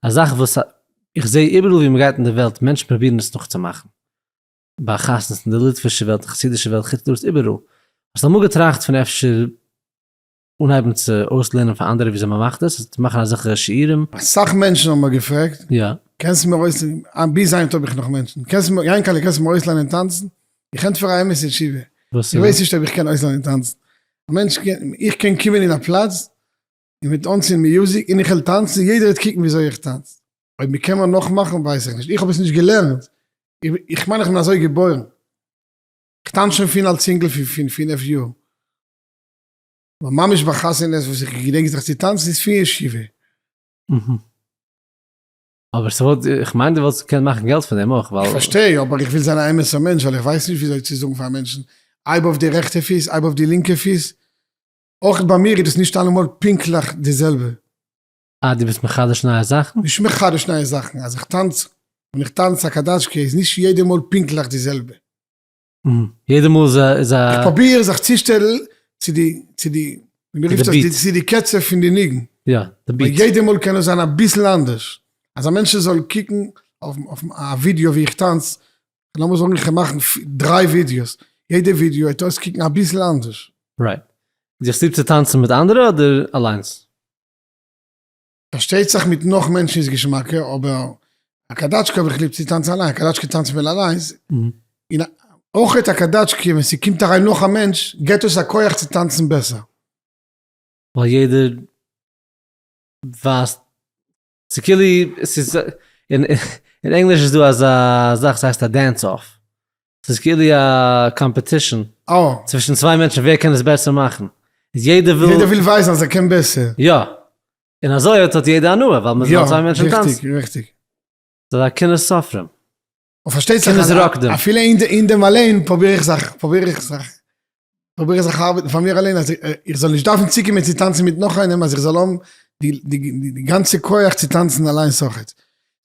א זאך וואס איך זעה איבעראל ווי מ'גייט אין די וועלט מענטשן פרובירן עס נאכצומאכן, ביי חתונות אין די ליטווישע וועלט, חסידישע וועלט, חוץ לארץ איבעראל. האסט אמאל געטראכט פון אפשר אנהייבן צו אויסלערנען פאר אנדערע וויאזוי מען מאכט עס, מאכן אזעלכע שיעורים. אסאך מענטשן האבן מיר געפרעגט, יא. קענסט מיר אויס, ביז היינט האב איך נאך מענטשן, קענסט מיר, יענקעלע קענסט מיר אויסלערנען טאנצן? איך ענטפער א אמת'ע תשובה, איך ווייס נישט אויב איך קען אויסלערנען טאנצן. א מענטש קען, איך קען קומען אין א פלאץ, און מ'וועט אנצינדן מיוזיק, און איך וועל טאנצן, יעדער וועט קוקן וויאזוי איך טאנץ. אויב מ'קען מיר נאכמאכן ווייס איך נישט, איך האב עס נישט געלערנט, איך מיין איך בין אזוי געבוירן. איך טאנץ שוין פון אלס אינגל פון פינף יאר. אבער ממש ביי חתונות וואס איך געדענק זיך צו טאנצן איז פון ישיבה. אהה. אבער ס'וואלט, איך מיין דו וואלסט געקענט מאכן געלט פון דעם אויך ווייל. כ'פארשטיי, אבער איך וויל זיין א אמת'ער מענטש ווייל איך ווייס נישט וויאזוי צו זאגן פאר מענטשן הייב אויף די רעכטע פיס, הייב אויף די לינקע פיס. אויך ביי מיר איז דאס נישט אלעמאל פונקטליך די זעלבע. אה, דו ביסט מחדש נייע זאכן? נישט מחדש נייע זאכן, אז איך טאנץ און איך טאנץ א קאדאטשקע איז נישט יעדע מאל פונקטליך די זעלבע. יעדע מאל איז א איז א. איך פראביר זיך צו שטעלן צו די צו די ווי מען רופט עס צו די קצב פון די ניגון. יא, די ביט. ווייל יעדע מאל קען עס זיין אביסל אנדערש. אז א מענטשן זאל קוקן אויף אויף א ווידיאו ווי איך טאנץ, לאמיר זאגן איך קען מאכן דריי ווידיאוס, יעדע ווידיאו וועט אויסקוקן אביסל אנדערש. רייט. זיך ליב צו טאנצן מיט אנדערע אדער אליינס? פארשטייט זיך מיט נאך מענטשן איז געשמאקער, אבער א קאדאטשקע האב איך ליב צו טאנצן אליין, א קאדאטשקע טאנצט מען אליינס, און אויך א קאדאטשקע ווען ס'קומט אריין נאך א מענטש געט עס א כח צו טאנצן בעסער. ווייל יעדער ווייסט, ס'כאילו, ס'איז, אין ענגליש איז דא אזא זאך ס'הייסט א דענס אףף, ס'איז כאילו א קאמפעטישן אה. צווישן צוויי מענטשן ווער קען עס בעסער מאכן. איז יעדער וויל. יעדער וויל ווייזן אז ער קען בעסער. יא. און אזוי האט האט יעדער הנאה ווייל מ'איז נאר צוויי מענטשן טאנצן. ריכטיג ריכטיג. ס'איז א קנאת סופרים. און פארשטייט זיך אז אפילו אין דעם אליין פרוביר איך זיך פרוביר איך זיך פרוביר איך זיך ארבעטן פאר מיר אליין אז איך זאל נישט דארפן צוקומען צו טאנצן מיט נאך איינעם אז איך זאל האבן די גאנצע כח צו טאנצן אליינס אויכעט.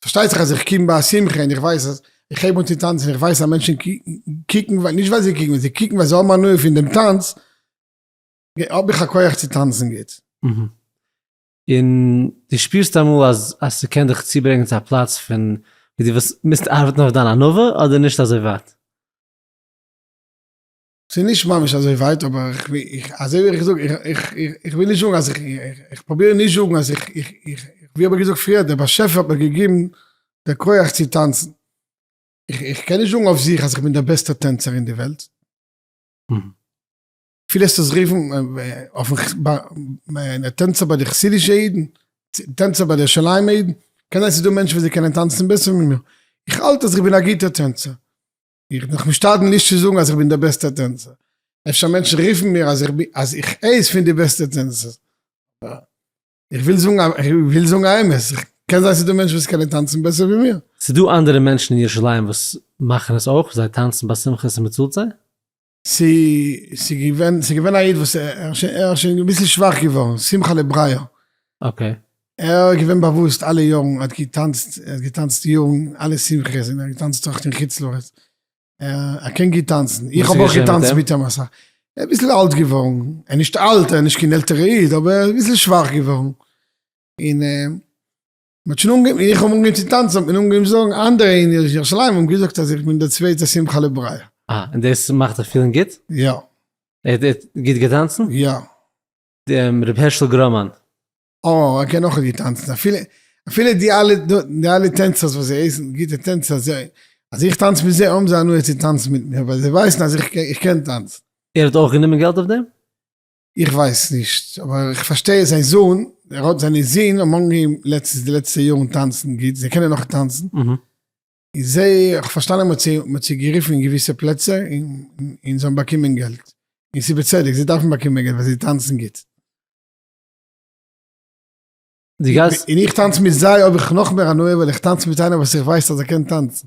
פארשטייט זיך אז איך קום ביי א שמחה און איך ווייס אז איך הייב אן צו טאנצן און איך ווייס אז מענטשן קוקן ווייל נישט ווייל זיי קוקן ווייל זיי קוקן ווייל זיי האבן הנאה פון דעם טאנץ האב איך א כח צו טאנצן גוט. און דו שפירסט אמאל אז אז ס'קען דיך צוברענגען צו א פלאץ פון ווי דו וועסט מוזט ארבעטן אויף דיין ענווה אדער נישט אזוי ווייט? ס'איז נישט ממש אזוי ווייט, אבער איך וויל, אזוי ווי איך זאג, איך וויל נישט זאגן אז איך, איך פרוביר נישט זאגן אז איך, איך, איך, ווי האב איך געזאגט פריער, דער באשעפער האט מיר געגעבן די כח צו טאנצן. איך, איך קען נישט זאגן אויף זיך אז איך בין דער בעסטער טענצער אין די וועלט. אפילו עסט עס רופן אויפן טענצער ביי די חסידישע אידן, טענצער ביי די ירושלימ'ע אידן, קען זיין ס'איז דא מענטשן וואס זיי קענען טאנצן בעסער ווי מיר. איך האלט אז איך בין א גוטער טענצער. איך בין דאך משתדל נישט צו זאגן אז איך בין דער בעסטער טענצער, אפשר מענטשן רופן מיר אז איך איינס פון די בעסטע טענצערס, אבער איך וויל זאגן אז איך וויל זאגן א אמת, קען זיין ס'איז דא מענטשן וואס קענען טאנצן בעסער ווי מיר. ס'איז דא אנדערע מענטשן אין ירושלים וואס מאכן עס אויך, זיי טאנצן ביי שמחות און מ'צאלט זיי. ס'איז געווען, ס'איז געווען א איד וואס ער איז שוין אביסל שוואך געווארן, שמחה לבריה. אקעי. ער איז געווען באוואוסט אלע יארן, ער האט געטאנצט, ער האט געטאנצט יארן, אלע שמחות, און ער האט געטאנצט אויך אין חוץ לארץ. ער קען גוט טאנצן, איך האב אויך געטאנצט מיט אים אסאך. ער איז אביסל אלט געווארן, ער איז נישט אלט, ער איז נישט קיין עלטערע איד, אבער ער איז אביסל שוואך געווארן. און. מ'האט שוין אנגעהויבן, איך האב אנגעהויבן צו טאנצן, האט מען אנגעהויבן זאגן אנדערע אין ירושלים האבן געזאגט אז איך בין דער צווייטער שמחה לבריה. אה, און דאס מאכט דיך פילן גוט? יא. ער האט גוט געטאנצן? יא. דער רבי הערשל גראמאן. אה, ער קען אויך געטאנצן. אפילו, אפילו די אלע, די אלע טענצערס וואס זיי הייסן גוטע טענצער, זיי, אז איך טאנץ מיט זיי האבן זיי הנאה צו טאנצן מיט מיר, ווייל זיי ווייסן אז איך קען טאנצן. ער האט אויך גענומען געלט אויף דעם? איך ווייס נישט, אבער איך פארשטיי זיין זון, ער האט זיינע זין האבן אנגעהויבן לעצטנס די לעצטע יארן טאנצן גוט, זיי קענען נאך טאנצן, און זיי, איך האב פארשטאנען מען האט זיי גערופן אין געוויסע פלעצער און זיי האבן באקומען געלט, און ס'איז בצדק, זיי דארפן באקומען געלט ווייל זיי טאנצן גוט. און איך טאנץ מיט זיי האב איך נאכמער הנאה ווייל איך טאנץ מיט איינער וואס איך ווייס אז ער קען טאנצן.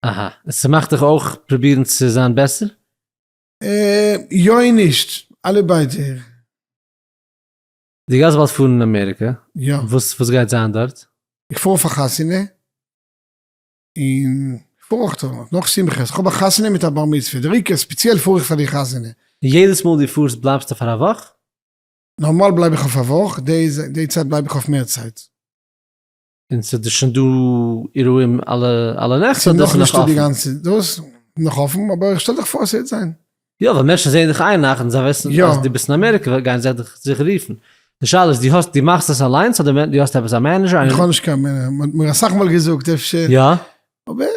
אהא, ס'מאכט דיך אויך פרובירן צו זיין בעסער? יא און נישט, אלע ביידע. דו גייסט באלד פארן אין אמעריקע? יא. וואס גייט זיין דארט? איך פאר פאר חתונה, און איך פאר אויך נאך שמחות, איך האב א חתונה מיט א בר מצוה, דער עיקר ספעציעל פאר איך פאר די חתונה. און יעדעס מאל דו פארסט בלייבסטו פאר א וואך? נארמאל בלייב איך אויף א וואך, די צייט בלייב איך אויף מער צייט. און ס'איז דאס שוין דא אירועים אלע אלע נעכט אדער ס'איז נאך אפן? דאס נאך אפן אבער שטעל דיך פאר ס'העט זיין. יא ווייל מענטשן זעען דיך איין נאכט און זיי ווייסן אז דו ביסט אין אמעריקע גייען זיי דיך זיכער רופן. די שאלה איז דו האסט דו מאכסט עס אליינס אדער דו האסט עפעס א מענעזשער? איך האב נישט קיין מענעזשער, מ'האט מיר אסאך מאל געזאגט אפשר. יא. אבער.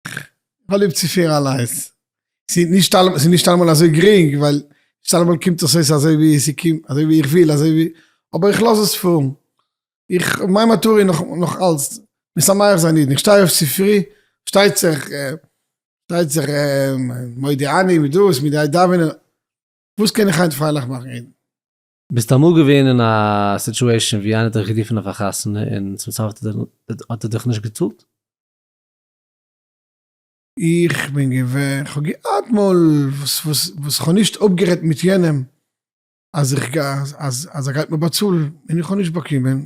כ'האב ליב צו פירן אליינס. ס'איז נישט אלעמאל, ס'איז נישט אלעמאל אזוי גרינג, ווייל נישט אלעמאל קומט עס אויס אזוי ווי ס'קומט, אזוי ווי איך וויל, אזוי ווי, אבער איך לאז עס פארן. איך, מיין מטרה איז נאך אלץ משמח זיין אידן. איך שטיי אויף צופרי, שטייט זיך, שטייט זיך מודיע אני מיט דאס, מיט די דאווענען, וואס קען איך היינט פרייליך מאכן אידן? ביסט אמאל געווען אין א סיטועשאן ווי איינער האט דיך גערופן אויף א חתונה און צום סוף האט ער דיך נישט געצאלט? איך בין געווען, כ'האב געהאט מאל וואס וואס כ'האב נישט אפגערעדט מיט יענעם אז איך גיי אז ער גייט מיר באצאלן און איך האב נישט באקומען,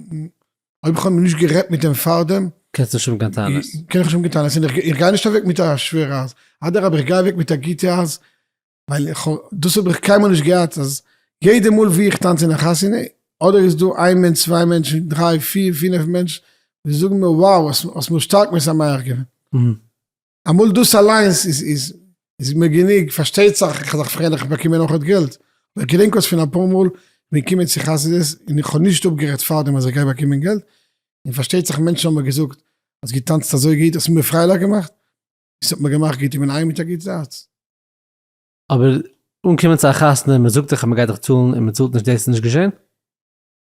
אויב כ'האב נישט גערעדט מיט אים פארדעם, קענסט נישט האבן קיין טענות, קען איך נישט האבן קיין טענות, און איך גיי נישט אוועק מיט א שווערע אז, אדרבה איך גיי אוועק מיט א גוטע אז, ווייל איך האב, דאס האב איך קיינמאל נישט געהאט אז יעדע מאל ווי איך טאנץ אין א חתונה, אדער איז דא איין מענטש צוויי מענטש דריי פיר פינעף מענטש וואס זאגן מיר wow האסט מיר שטארק משמח געווען, אמאל דאס אליינס איז מיר גענוג, פארשטייט זיך איך זיך פרעהן איך באקום אויך אט געלט, אבער איך געדענק אויס פון אפאר מאל כ'בין געקומען צו חסידות און איך האב נישט אפגערעדט פארדעם אז איך גיי באקומען געלט, און פארשטייט זיך מענטשן האבן מיר געזאגט האסט געטאנצט אזוי גוט, האסט מיר פרייליך געמאכט, עס האט מיר געמאכט גוט, איך בין אהיים מיט א גוט הארץ. אבער אנקומען צו א חתונה און מען זאגט דיך אז מען גייט דיך צאלן און מען צאלט נישט דאס איז נישט געשען?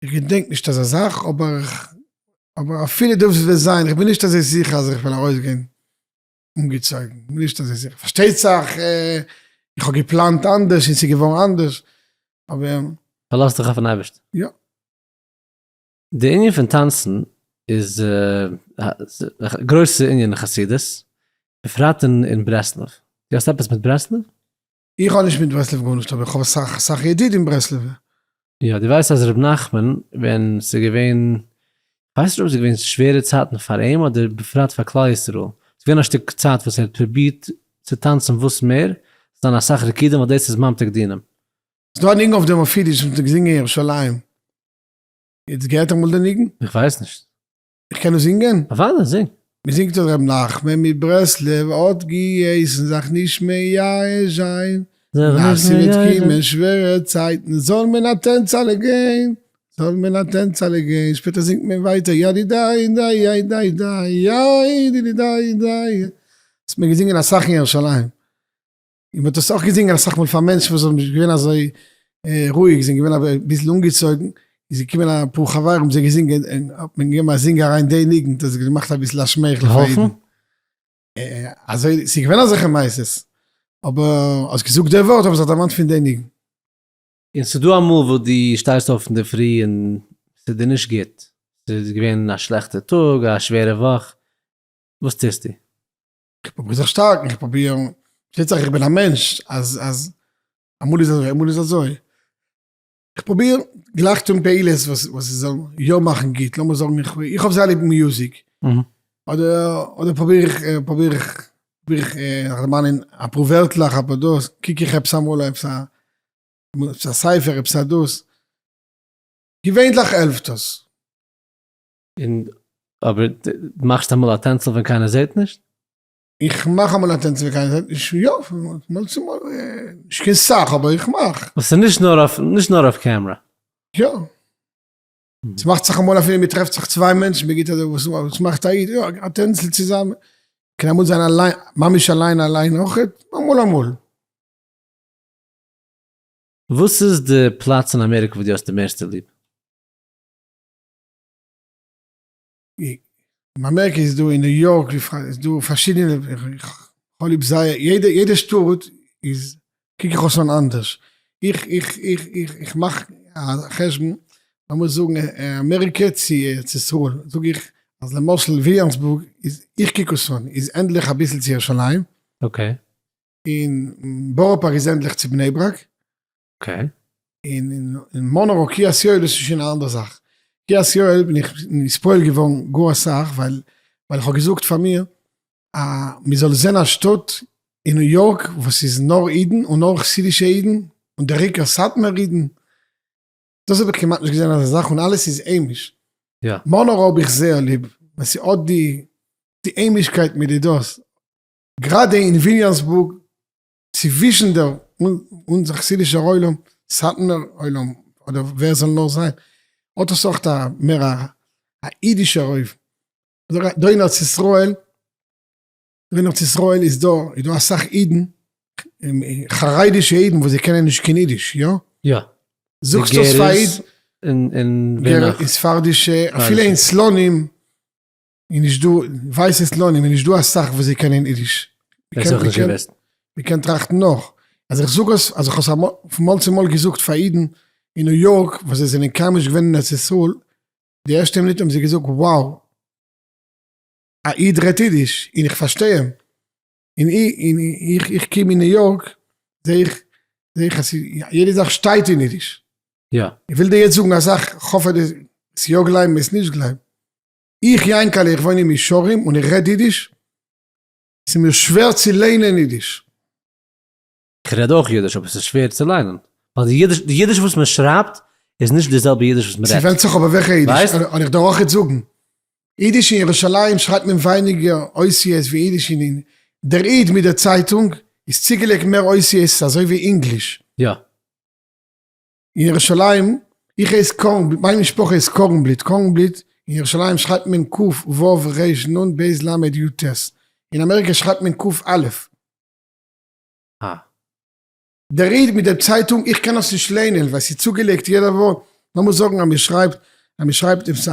איך געדענק נישט אזא זאך אבער אבער אפילו דאס וועט זיין איך בין נישט אזוי זיכער אז איך וועל ארויסגיין אנגעצויגן בין נישט אזוי זיכער פארשטייט זיך איך האב געפלאנט אנדערש און ס'איז געווארן אנדערש אבער. פארלאז דיך אויפן אייבערשטן. יא. די ענין פון טאנצן איז א גרויסע ענין אין חסידות, בפרט אין ברסלב. דו האסט עפעס מיט ברסלב? איך האב נישט מיט ברסלב גארנישט, אבער איך האב אסאך אסאך ידידים ברסלב'ע. יא, דו ווייסט אז ר' נחמן ווען ס'איז געווען, כ'ווייס נישט אויב ס'איז געווען שווערע צייטן פאר אים אדער בפרט פאר כלל ישראל, ס'איז געווען א שטיק צייט וואס ער האט פרובירט צו טאנצן וואס מער, ס'איז געווען אסאך ריקודין ווייל דאס איז ממתק דינים. ס'איז דא א ניגון אויף דעם אויף אידיש וואס מ'האט געזינגען אין ירושלים. יעצט געהערט אמאל די ניגון? איך ווייס נישט. איך קען עס זינגען? אוודאי, זינג. מיר זינגט דאס ר' נחמן מברסלב האט געהייסן זיך נישט מייאש זיין ווייל ס'וועט קומען שווערע צייטן זאל מען א טענצעלע גיין, זאל מען א טענצעלע גיין, שפעטער זינגט מען ווייטער ידידיי דיי דיי דיי דיי דיי דידידיי דיי, האט מען געזינגען אסאך אין ירושלים. און מ'האט דאס אויך געזינגען אסאך מאל פאר מענטשן וואס זענען נישט געווען אזוי רואיג, זענען געווען אביסל אנגעצויגן, איז געקומען אפאר חברים זיי געזינגען, און האט מען געגעבן א זינג אריין די ניגון, דאס האט געמאכט אביסל א שמייכל פאר אידן. אזוי, ס'איז געווען אזעלכע מעשות, אבער האסט געזאגט די ווארט האבן זיך דערמאנט פון די ניגון. און ס'איז דא אמאל וואס דו שטייסט אויף אינדערפרי און ס'איז דיר נישט גוט, ס'איז געווען א שלעכטע טאג, א שווערע וואך, וואס טוסטו? כ'פרוביר זיך שטארקן, כ'פרוביר, פארשטייט זיך איך בין א מענטש אז אז אמאל איז אזוי אמאל איז אזוי, כ'פרוביר גלייך טון פעולות וואס וואס ס'זאל יא מאכן גוט, לאמיר זאגן איך איך האב זייער ליב מיוזיק, אדער פרוביר איך פרוביר איך פרוביר איך זיך דערמאנען אפאר ווערטלעך אפאר דאס, קוק איך עפעס אמאל עפעס א עפעס א ספר עפעס א דאס, געווענליך העלפט עס. און אבער די מאכסט אמאל א טענצל ווען קיינער זעהט נישט? איך מאך אמאל א טענצל ווען קיינער זעהט נישט, יא, פון מאל צו מאל, נישט קיין סאך אבער איך מאך. וואס איז נישט נאר אויף נישט נאר אויף קעמרא? יא. עס מאכט זיך אמאל אפילו מען טרעפט זיך צוויי מענטשן מען גיבט אזוי וואס וואס מאכט א איד, יא א טענצל צוזאמען, קען אמאל זיין אליין ממש אליין אליין אויך, אמאל אמאל. וואס איז די פלאץ אין אמעריקע וואס דו האסט די מערסטע ליב? מיין מערק איז דא אין ניו יארק איז דא פארשידענע איך האב ליב זייער יעדע יעדע שטאט איז קוק איך אויס אן אנדערש איך איך איך איך איך מאך א חשבון לאמיר זאגן אמעריקע צו ארץ ישראל זאג איך אז למשל וויליאמסבורג איז איך קוק אויס אן איז ענדליך אביסל צו ירושלים און בארא פארק איז ענדליך צו בני ברק אקעי. און אין מאנרא קרית יואל איז שוין א אנדערע זאך. קרית יואל בין איך נספוילט געווארן גאר אסאך ווייל איך האב געזאגט פאר מיר א מען זאל זען א שטאט אין ניו יארק וואס איז נאר אידן און נאר חסידישע אידן און דער עיקר סאטמאר אידן. דאס האב איך כמעט נישט געזען אזא זאך און אלעס איז היימיש. מאנרא האב איך זייער ליב ווייל ס'האט די היימישקייט מיט די דאס. גראדע אין וויליאמסבורג צווישן דער אונזער חסידישער עולם, סאטמער עולם, אדער ווער ס'זאל נאר זיין, האט עס אויך א מער א אידישער אויבן. אזוי דא אין ארץ ישראל, דא אין ארץ ישראל איז דא, איז דא אסאך אידן, חרדישע אידן וואס זיי קענען נישט קיין אידיש, יא? יא. זאגסט עס פאר א איד. און ווער נאך? און ספרדישע, אפילו אין סלונים. איז נישט דא, ווייס עס לא נ, איז נישט דא אסאך וואס זיי קענען אידיש. מען קען טראכטן נאך. אז איך זאג עס, אז איך האב עס אמאל, פון מאל צו מאל געזאגט פאר אידן אין ניו יארק וואס זיי זענען קיינמאל נישט געווען אין ארץ ישראל, די ערשטע מינוט האבן זיי געזאגט wow, א איד רעדט אידיש און איך פארשטיי אים. און איך קום אין ניו יארק, זעה איך, זעה איך אז יעדע זאך שטייט אין אידיש. איך וויל דיר יעצט זאגן א זאך, איך האף אז דו וועסט יא גלייבן, וועסט נישט גלייבן. איך יענקעלע איך וואוין אין מישרים און איך רעד אידיש, ס'איז מיר שווער צו ליינען אידיש. איך רעד אויך אידיש אבער ס'איז שווער צו ליינען ווייל די אידיש וואס מען שרייבט איז נישט די זעלבע אידיש וואס מען רעדט. ס'ווענדט זיך אבער וועלכע אידיש, און איך דארך אויך זאגן, אידיש אין ירושלים שרייבט מען ווייניגער אותיות ווי אידיש אין דער איד מיט דער צייטונג איז צוגעלייגט מער אותיות אזוי ווי אינגליש. יא. אין ירושלים, איך הייס קארן בלוט, מיין משפחה איז קארנבליט, קארנבליט, אין ירושלים שרייבט מען ק ו ר נ ב ל י ט, אין אמעריקא שרייבט מען ק א. א. דער איד מיט דער צייטונג, איך קען עס נישט ליינען ווייל ס'איז צוגעלייגט יעדע ווארט, לאמיר זאגן אז מען שרייבט, אז מען שרייבט עפעס א,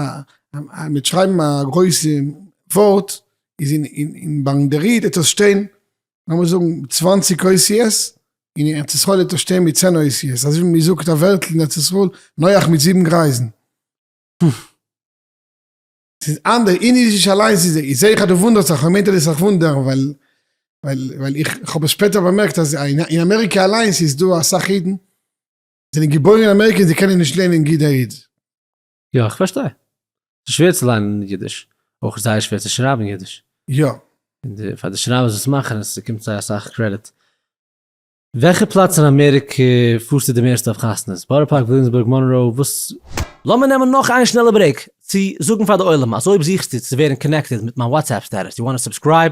אז מ'העט שרייבן א גרויסע ווארט, איז אין, אין, ביי דער איד העט עס שטיין לאמיר זאגן צוואַנציק אותיות, אין ארץ ישראל וועט ער שטיין מיט צען אותיות, אזוי ווי מען זאגט א ווערטל אין ארץ ישראל נוח מיט זיבן גרייזן. ס'איז אנדער, אין אידיש אליינס איז איך זעה אז דו וואונדערסט זיך, כ'מיין דו זאלסט זיך וואונדערן ווייל ווייל איך האב עס שפעטער באמערקט אז אין אמעריקע אליינס איז דא אסאך אידן זענען געבוירן אין אמעריקע און זיי קענען נישט ליינען ג-ד-י-ד. יא איך פארשטיי. ס'איז שווער צו ליינען אידיש. אויך איז זייער שווער צו שרייבן אידיש. יא. און די פאר די שרייבערס וואס מאכן עס ס'קומט זיי אסאך קרעדיט. וועלכע פלאץ אין אמעריקע פארסטו די מערסטע אויף חתונות? בארא פארק, וויליאמסבורג, מאנראו, וואס? לאמיר נעמען נאך איין שנעלע ברעיק צו זאגן פאר די עולם אז אויב זוכסטו צו ווערן קאנעקטעד מיט מיין וואטסעפפ סטעטוס, יו וואנט טו סובסקרייב?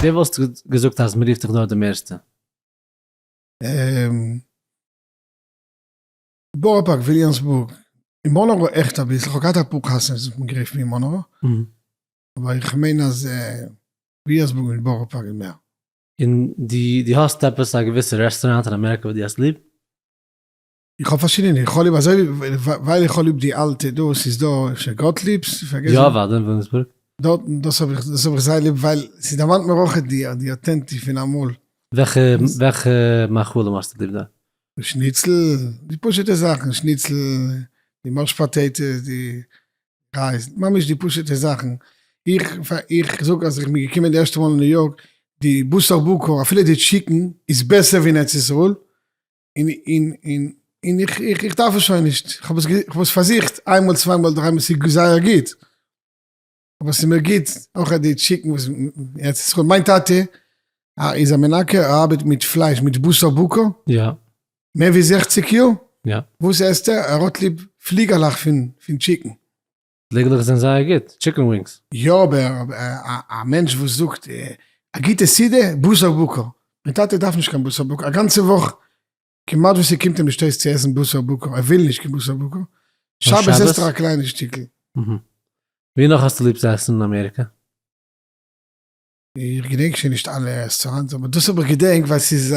ווער וואלסטו געזאגט אז מ'רופט דיך דארט די מערסטע? און בארא פארק, וויליאמסבורג, אין מאנרא עכט אביסל, כ'האב געהאט אפאר קאסינס וואס האבן גערופט מיר אין מאנרא, אבער איך מיין אז וויליאמסבורג מיט בארא פארק איז מער. און דו האסט עפעס א געוויסע רעסטוראנט אין אמעריקא וואס דו האסט ליב? איך האב פארשידענע, איך האב ליב אזוי ווי, ווייל איך האב ליב די אלטע דא, ס'איז דא אפשר גאטליב'ס? איך פארגעס. יא אוודאי אין וויליאמסבורג. דארט, דאס האב איך, דאס האב איך זייער ליב ווייל ס'דערמאנט מיר אויך די, די אוטענטיש פון אמאל. וועלכע, וועלכע מאכלים האסטו ליב דארט? שניצל, די פשוט'ע זאכן, שניצל, די מעש פאטעיטעס, די רייז, ממש די פשוט'ע זאכן. איך, איך זאג אז איך בין געקומען די ערשטע מאל אין ניו יארק, די בשר בקר, אפילו די טשיקן, איז בעסער ווי אין ארץ ישראל, און, און, און, און איך, איך, איך דארף עס שוין נישט, איך האב עס, איך האב עס פארזוכט איין מאל צוויי מאל דריי מאל, עס איז זייער גוט, אבער עס איז מיר גוט אויך אט די טשיקן וואס ארץ ישראל, מיין טאטע איז א מנקה, ער ארבעט מיט פלייש, מיט בשר בקר, יא. מער ווי זעכציג יאר, יא. וואס עסט ער? ער האט ליב פליגערלעך פון, פון טשיקן. פלעגלעך זענען זייער גוט, טשיקן ווינגס. יא אבער א מענטש וואס זאגט א גוטע סידור בשר בקר, מיין טאטע דארף נישט קיין בשר בקר א גאנצע וואך, כמעט וואס ס'קומט אים נישט אויס צו עסן בשר בקר, ער וויל נישט קיין בשר בקר, שבת עסט ער א קליינע שטיקל. ווי נאך האסטו ליב צו עסן אין אמעריקע? איך געדענק שוין נישט אלע רעסטוראנטס אבער דאס האב איך געדענק ווייל ס'איז א.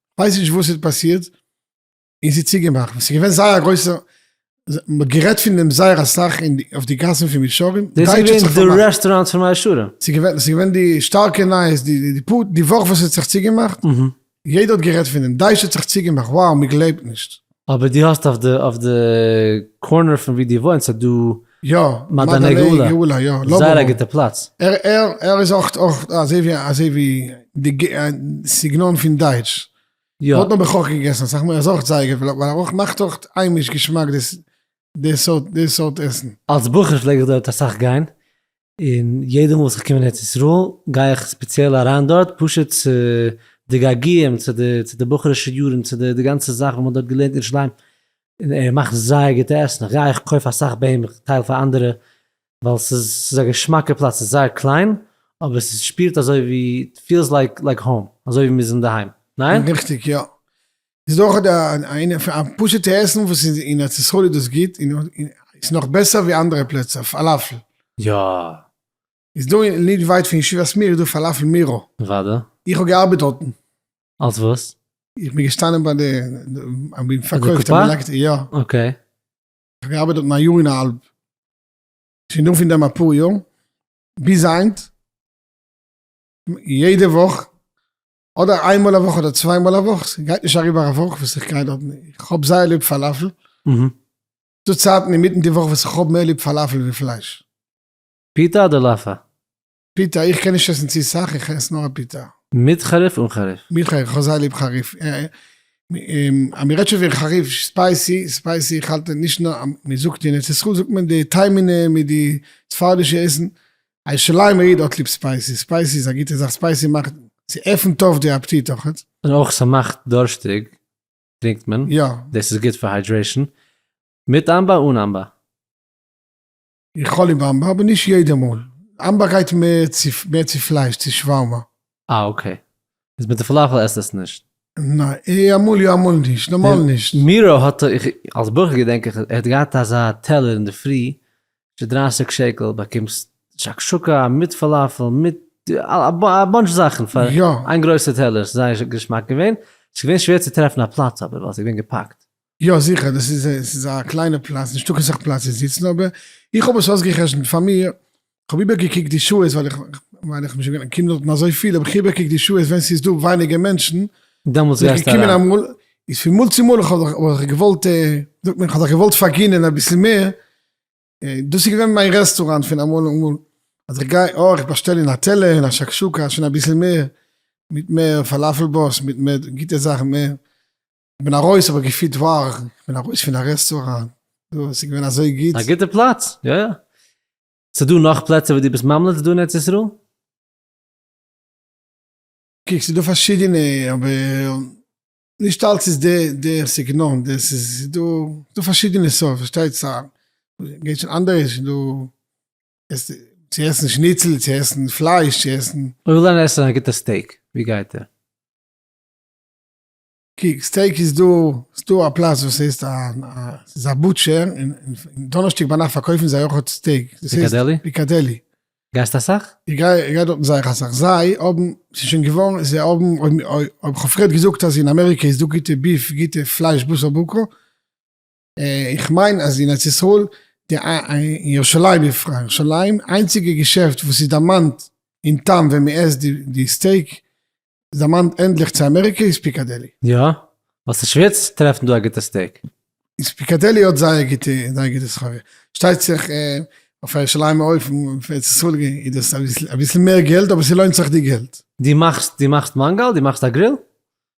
כ'ווייס נישט וואס ס'האט פאסירט און ס'איז צוגעמאכט, ס'איז געווען זייער א גרויסע, מ'האט גערעדט פון דעם זייער אסאך אויף די גאסן פון מישרים, דאס איז געווען די רעסטוראנט פון מאה שערים? ס'איז געווען, ס'איז געווען די שטארקע נייעס די די פאר די וואך וואס ס'האט זיך צוגעמאכט, יעדער האט גערעדט פון דעם, דייטש האט זיך צוגעמאכט, wow מ'גלייבט נישט. אבער דו האסט אויף די אויף די קארנער פון ווי דו וואוינסט איז דא יא, מעדני גאולה, יא, לאבאבא, זייער א גוטע פלאץ. ער ער ער איז אויך אויך אזוי ווי אזוי ווי די ג א סגנון פון דייטש. יא. מ'האט נאר בכח געגעסן אסאך מאל ער איז אויך זייער גוט ווייל ווייל ער אויך מאכט אויך היימיש געשמאק דאס די סארט די סארט עסן. אלס בחור פלעג איך דארט אסאך גיין, און יעדע מאל וואס איך קום אין ארץ ישראל גיי איך ספעציעל אריין דארט פשוט צו די געגועים צו די צו די בחור'ישע יארן צו די די גאנצע זאך וואס מען האט דארט געלערנט אין ירושלים, און ער מאכט זייער גוטע עסן, איך גיי איך קויף אסאך ביי אים איך טייל פאר אנדערע, ווייל ס'איז ס'איז א געשמאקע פלאץ ס'איז זייער קליין אבער ס'שפירט אזוי ווי פיעלס לייק לייק האום אזוי ווי מ'איז אינדערהיים, ניין? ריכטיג יא. איז אויך דא א פשוטע עסן וואס איז אין ארץ ישראל איז דאס גוט און איז נאך בעסער ווי אנדערע פלעצער פאלאפל. יא. איז דא נישט ווייט פון ישיבת מיר איז דא פאלאפל מירא. וואדע. איך האב געארבעט דארטן. אלס וואס? איך בין געשטאנען ביי די איך בין פארקויפט א מלקט יא. אקעי. איך האב געארבעט דארטן א יאר און א האלב. שוין דא פון דעם אפאר יאר. ביז היינט יעדע וואך אדער איין מאל א וואך אדער צוויי מאל א וואך, ס'גייט נישט אריבער א וואך וואס איך גיי דארטן, איך האב זייער ליב פאלאפל, ס'דא צייטן אינמיטן די וואך וואס איך האב מער ליב פאלאפל ווי פלייש. פיטא אדער לאפא? פיטא, איך קען נישט עסן צו סאך, איך עס נאר א פיטא. מיט חריף אן חריף? מיט חריף, איך האב זייער ליב חריף, אז מ'רעדט שוין פון חריף, ספייסי, ספייסי, איך האלט נישט נאר, מ'זאגט אין ארץ ישראל זאגט מען די טעימענע מיט די ספרדישע עסן, א ירושלימער איד האט ליב ספייסי, ספייסי איז א גוטע זאך, ספייסי מאכט, ס'עפנט אויף די אפטיט אויכעט. און אויך ס'מאכט דורשטיג טרינקט מען, יא. דאס איז גוט פאר היידרעישן, מיט אמבא אן אמבא. איך האב ליב אמבא אבער נישט יעדע מאל, אמבא גייט מער צו פלייש צו שווארמא. אה אקעי. איז מיט די פלאפעל עסט עס נישט? ניין, אמאל יא אמאל נישט, נארמאל נישט. מירא האט איך אלס בחור געדענק איך ער האט געהאט אזא טעלער אינדערפרי פון דרייסיג שקל באקומסט שקשוקה מיט פאלאפעל מיט א באנטש זאכן פאר איין גרויסע טעלער ס'איז זייער געשמאק געווען ס'איז געווען שווער צו טרעפן א פלאץ אבער ווייל ס'איז געווען געפאקט. יא זיכער, דאס איז א, עס איז א קליינע פלאץ, נישטא קיין סאך פלאץ צו זיצן, אבער איך האב עס אויסגע'חשבונ'ט פאר מיר, כ'האב איבערגעקוקט די שעות, ווייל איך, ווייל איך בין שוין געווען קינדער דארטן אזוי פיל, האב איך איבערגעקוקט די שעות ווען ס'איז דא ווייניגער מענטשן, דעמאלטס גייסטו אריין. איז פון מאל צו מאל האב איך זיך געוואלט, ווי זאגט מען, איך האב זיך געוואלט פארגינען אביסל מער, דאס איז געווען מיין רעסטוראנט פון אמאל און אמאל, אז איך גיי, אה, איך באשטעל אין א טעלער, אין א שקשוקה, שוין אביסל מער, מיט מער פאלאפל באס, מיט מער גוטע זאכן, מער. כ'בין ארויס, כ'האב געפילט וואו כ'בין ארויס פון א רעסטוראנט, דא, עס איז געווען אזוי גוט. א גוטע פלאץ, יא יא. ס'דא נאך פלעצער וואס דו ביסט ממליץ דא אין ארץ ישראל? קוק, ס'דא פארשידענע, אבער נישט אלץ איז די די סגנון, די ס'איז דא, ס'דא פארשידענע סארט, פארשטייטס א, גייט שוין אנדערע, ס'איז דא עסן, צו עסן שניצל, צו עסן פלייש, צו עסן. אויב איך וויל גיין עסן א גוטע סטעיק, וואו גייט ער? קוק, סטעיק איז דא, ס'דא א פלאץ וואס הייסט א, ס'איז א בוטשער, און דאנערשטאג ביינאכט פארקויפן זיי אויך האט סטעיק, דאס הייסט, פיקאדעלי? פיקאדעלי. גייסט אסאך? איך גיי, איך גיי דארטן זייער אסאך, זיי האבן, ס'איז שוין געווארן, זיי האבן, אויב, אויב כ'האב פריער געזאגט אז אין אמעריקע איז דא גוטע ביף, גוטע פלייש בשר בקר, איך מיין אז אין ארץ ישראל, אין ירושלים בפרט, ירושלים, איינציגע געשעפט וואס איז דערמאנט אין טעם ווען מען עסט די סטעיק איז דערמאנט ענדליך צו אמעריקע איז פיקאדעלי. יא? ווייל ס'איז שווער צו טרעפן דא א גוטע סטעיק. איז פיקאדעלי האט זייער גוטע זייער גוטע סחורה. שטייט זיך אויף א ירושלימ'ע אופן אויף ארץ ישראל איז דאס אביסל מער געלט אבער ס'לוינט זיך די געלט. די מאכסט די מאכסט מאנגאל? די מאכסט א גריל?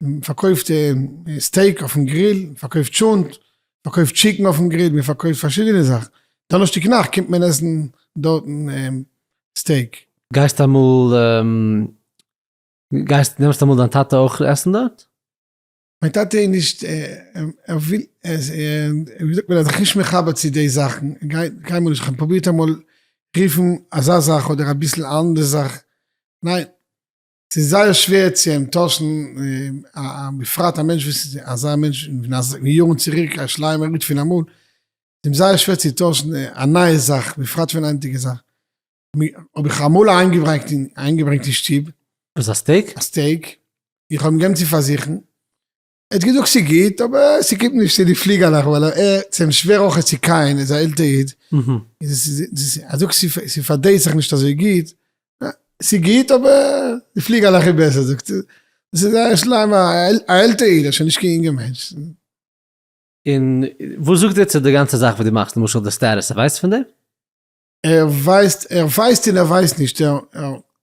מ'פארקויפט סטעיק אויפן גריל, מ'פארקויפט טשולנט, מ'פארקויפט טשיקן אויפן גריל, מ'פארקויפט פארשידענע זאכן. דאנערשטאג נאכט קומט מען עסן דארטן סטעיק. גייסט אמאל, גייסט, נעמסט אמאל דיין טאטע אויך עסן דארט? מיין טאטע איז נישט, ער וויל, ווי זאגט מען, ער איז זיך נישט מחבר צו די זאכן, קיינמאל נישט, כ'האב פרובירט אמאל רופן אזא זאך אדער אביסל אנדערע זאך, ניין. ס'איז זייער שווער צו אנטוישן, בפרט א מענטש וואס איז אזא מענטש פון יארן צוריק, א שליימער איד פון אמאל, איז אים זייער שווער צו טוישן א נייע זאך, בפרט פון היינטיגע זאך. האב איך אמאל איינגעברענגט אין שטוב. וואס א סטעיק? א סטעיק, איך האב אים געבן צו פארזוכן, ער האט געזאגט ס'גוט אבער ס'קומט נישט צו די פליגעלעך ווייל ער הערט זיין שווער אויך צו קייען איז א עלטער איד, ער זאגט ס'פארדרייט זיך נישט אזוי גוט, ס'גוט אבער די פליגעלעך איז בעסער זאגט ער, דאס איז זייער שלעם א עלטער איד ער איז שוין נישט קיין יונגער מענטש. און וואס זאגט ער צו די גאנצע זאך וואס דו מאכסט למשל די סטעטוס ער ווייסט פון דעם? ער ווייסט, ער ווייסט און ער ווייסט נישט,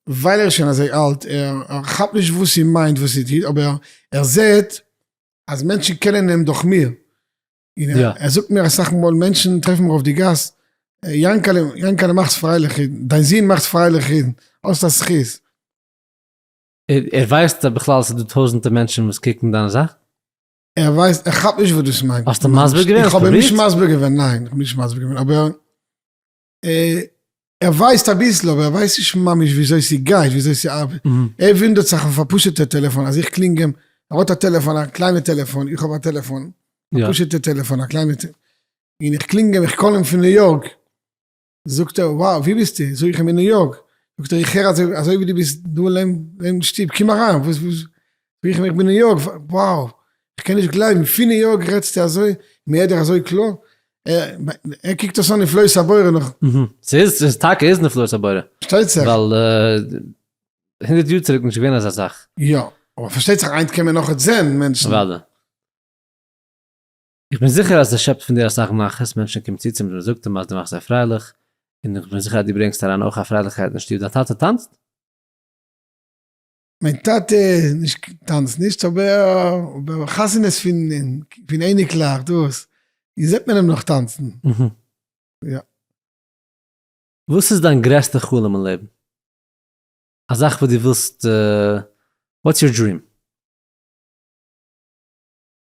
ווייל ער איז שוין אזוי אלט, ער כאפט נישט וואס איר מיינט וואס איר טוט, אבער ער זעט אז מענטשן קענען אים דורך מיר, ער זאגט מיר אסאך מאל, מענטשן טרעפן מיר אויף די גאס, יענקעלע, יענקעלע מאכסט פרייליך אידן, דיין זון מאכט פרייליך אידן, האסט א זכות. ער ווייסט בכלל אז ס'איז דא טויזענטער מענטשן וואס קוקן דיינע זאכן? ער ווייסט, ער כאפט נישט וואס דאס מיינט. האסטו מסביר געווען? איך האב אים נישט מסביר געווען, ניין, איך האב אים נישט מסביר געווען, אבער ער ווייסט אביסל, אבער ער ווייסט נישט ממש וויאזוי ס'גייט, וויאזוי ס'ארבעט. ער וואונדערט זיך אויף א פשוט'ע טעלעפאן, אז איך קלינג אים, ער האט א טעלעפאן, א קליינע טעלעפאן, איך האב א טעלעפאן, א פשוט'ע טעלעפאן, א קליינע, און איך קלינג אים, איך קאל אים פון ניו יארק. זאגט ער, וואו, ווי ביסטו? זאג איך אים, אין ניו יארק. זאגט ער, איך הער אז אזוי ווי דו ביסט דא אין שטוב, קום אריין. וואס, וואס, זאג איך אים, איך בין ניו יארק, וואו, איך קען נישט גלייבן, פון ניו יארק רעדסטו אזוי, מ'הערט דיך אזוי קלאר. ער קוקט דאס אן נפלאות הבורא נאך. ס'איז, ס'איז טאקע איז נפלאות הבורא. פארשטייט זיך. ווייל הונדערט יאר צוריק איז נישט געווען אזא זאך. יא, אבער פארשטייט זיך היינט קען מען נאך זען מענטשן. אוודאי. איך בין זיכער אז עס שעפט פון דיר אסאך נחת, מענטשן קומען צו צו מיר און זאגטען אז דו מאכסט זיי פרייליך, און איך בין זיכער אז דו ברענגסט אריין אויך א פרייליכקייט אין שטוב, דיין טאטע טאנצט? מיין טאטע נישט טאנצט נישט אבער חתונות פון אייניקלעך דאס זעט מען אים נאך טאנצן יא. וואס איז דיין גרעסטע חלום אין לעבן? א זאך וואס דו ווילסט וואטס יור דריעם?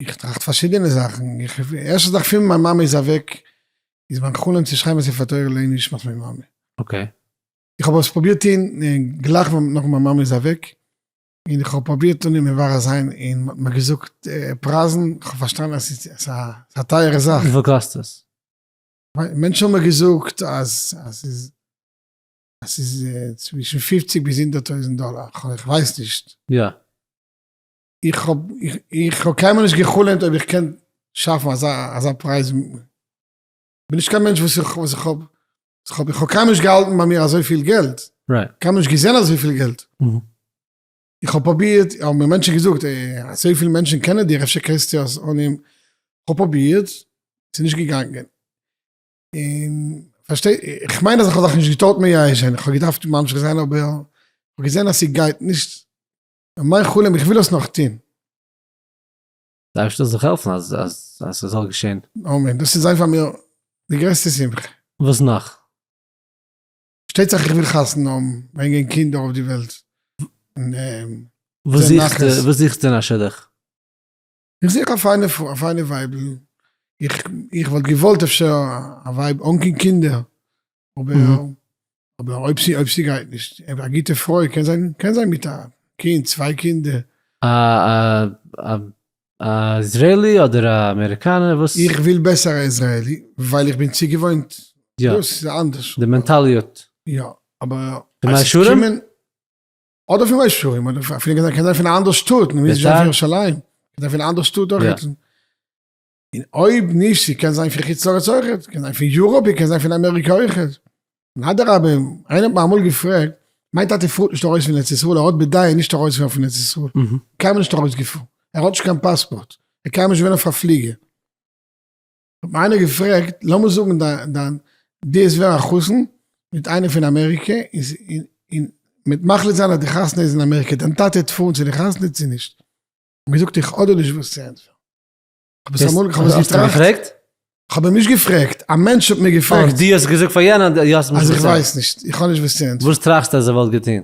איך טראכט פארשידענע זאכן, ערשטע זאך פין מיין מאמע איז אוועק איז מיין חלום צו שרייבען א ספר תורה לעני נשמת מיין מאמע. אקעי. איך האב עס פראבירט טוהן גלייך נאך מיין מאמע איז אוועק, אין איך האב פראבירט אן אים מברר זיין אין מען האט מיר געזאגט פרייזן, איך האב פארשטאנען אז עס איז א טייערע זאך. וויפיל קאסט עס? מענטשן האבן מיר געזאגט אז עס איז צווישן פופציג ביז הונדערט טויזענט דאלאר, איך ווייס נישט. יא. איך האב, איך האב קיינמאל נישט גע'חלומ'ט אויב איך קען שאפן אזא, אזא פרייז. כ'בין נישט קיין מענטש וואס איך, וואס איך האב, איך האב, איך האב קיינמאל נישט געהאלטן ביי מיר אזויפיל געלט. רייט. קיינמאל נישט געזען אזויפיל געלט. איך האב פרובירט, האבן מיר מענטשן געזאגט, אזויפיל מענטשן קענען דיר, אפשר קענסטו אז אנעם. כ'האב פרובירט, ס'איז נישט געגאנגען. און, פארשטיי, איך מיין אז איך האב זיך נישט געטארט מייאש זיין, איך האב געדארפט ממשיך זיין אבער, כ'האב געזען אז ס'גייט נישט. מיין חלום איך וויל עס נאך טוהן. די אייבערשטער זאל זיך העלפן אז אז ס'זאל געשען. אמן, דאס איז זיין פאר מיר די גרעסטע שמחה. וואס נאך? פארשטייט זיך איך וויל חתונה האבן, ברענגען קינדער אויף די וועלט, און זען נחת. וואס זוכסטו אין א שידוך? איך זיך א פיינע פרוי, א פיינע ווייבל, איך, איך וואלט געוואלט אפשר א ווייב אן קיין קינדער, אבער, אבער אויב ס'איז, אויב ס'גייט נישט, א גוטע פרוי קען זיין, קען זיין מיט א קינד, צוויי קינדער. א, א, א, א איזרעילי אדער א אמעריקאנער? וואס? איך וויל בעסער א איזרעילי, ווייל איך בין צוגעוואוינט, דאס איז אנדערש. די מענטאליעט. יא, אבער. די מאה שערים? אדער פון מי שרים אדער פון פון געזאנג קען פון אנדער שטאט נישט זיין פון ירושלים קען פון אנדער שטאט אויך היצן אין אויב נישט זי קען זיין פון חוץ לארץ אויך קען זיין פון יוראפ קען זיין פון אמעריקע אויך און אדרבה איינער האט מיר אמאל געפרעגט מיין טאטע פארט נישט ארויס פון ארץ ישראל ער האט בדעה נישט ארויס פון פון ארץ ישראל קיינמאל נישט ארויס געפארן ער האט נישט קיין פאספארט ער קען נישט ווען אויף א פליגער. האט מיר איינער געפרעגט, לאמיר זאגן דיין די איז ווער א חתן מיט איינער פון אמעריקע, און מ'וועט מחליט זיין אז די חתונה איז אין אמעריקע, דיין טאטע וועט פארן צו די חתונה צו נישט? כ'האב געזאגט איך אדער נישט וואס צו ענטפערן. כ'האב עס אמאל געטראכט. כ'האב אים נישט געפרעגט, א מענטש האט מיר געפרעגט. אויף די האסט געזאגט פאר יענעם אז איך ווייס נישט, איך האב נישט וואס צו ענטפערן. וואס טראכסטו אז ער וואלט געטון?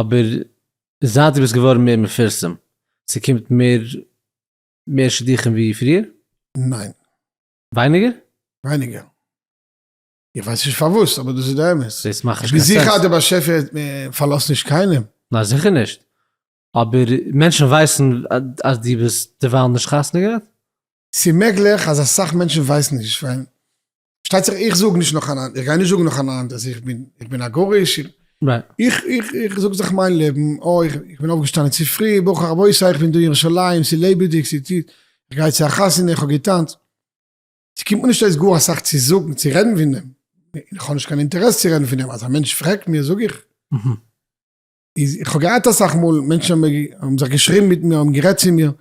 אבער זייט דו ביסט געווארן מער מפורסם, ס'קומט מער מער שידוכים ווי פריער? ניין. ווייניגער? ווייניגער. איך ווייס נישט פארוואס, אבער דאס איז די אמת. דאס מאכט נישט קיין סענס. כ'בין זיכער אז דער באשעפער פארלאזט נישט קיינעם. ניין זיכער נישט. אבער מענטשן ווייסן אז דו ביסט דערווייל נישט חתונה געהאט? ס'מעגליך אז אסאך מענטשן ווייסן נישט ווייל פארשטייט זיך איך זאג נישט נאך אנאנד איך גיי נישט זאגן נאך אנאנד אז איך בין איך בין א גרוש איך איך איך זאג זיך מיין לעבן אוי איך איך בין אויפגעשטאנען צו פרי ברוך רבותי איך בין דא אין ירושלים ס'איז לעבעדיג ס'איז איך גיי צו א חתונה איך האב געטאנצט ס'קומט מיר נישט אויס גאר אסאך צו זאגן צו רעדן פון דעם איך האב נישט קיין אינטערעס צו רעדן פון דעם אז א מענטש פרעגט מיר זאג איך איז איך האב געהאט אסאך מאל מענטשן האבן זיך געשריבן מיט מיר, האבן גערעדט צו מיר,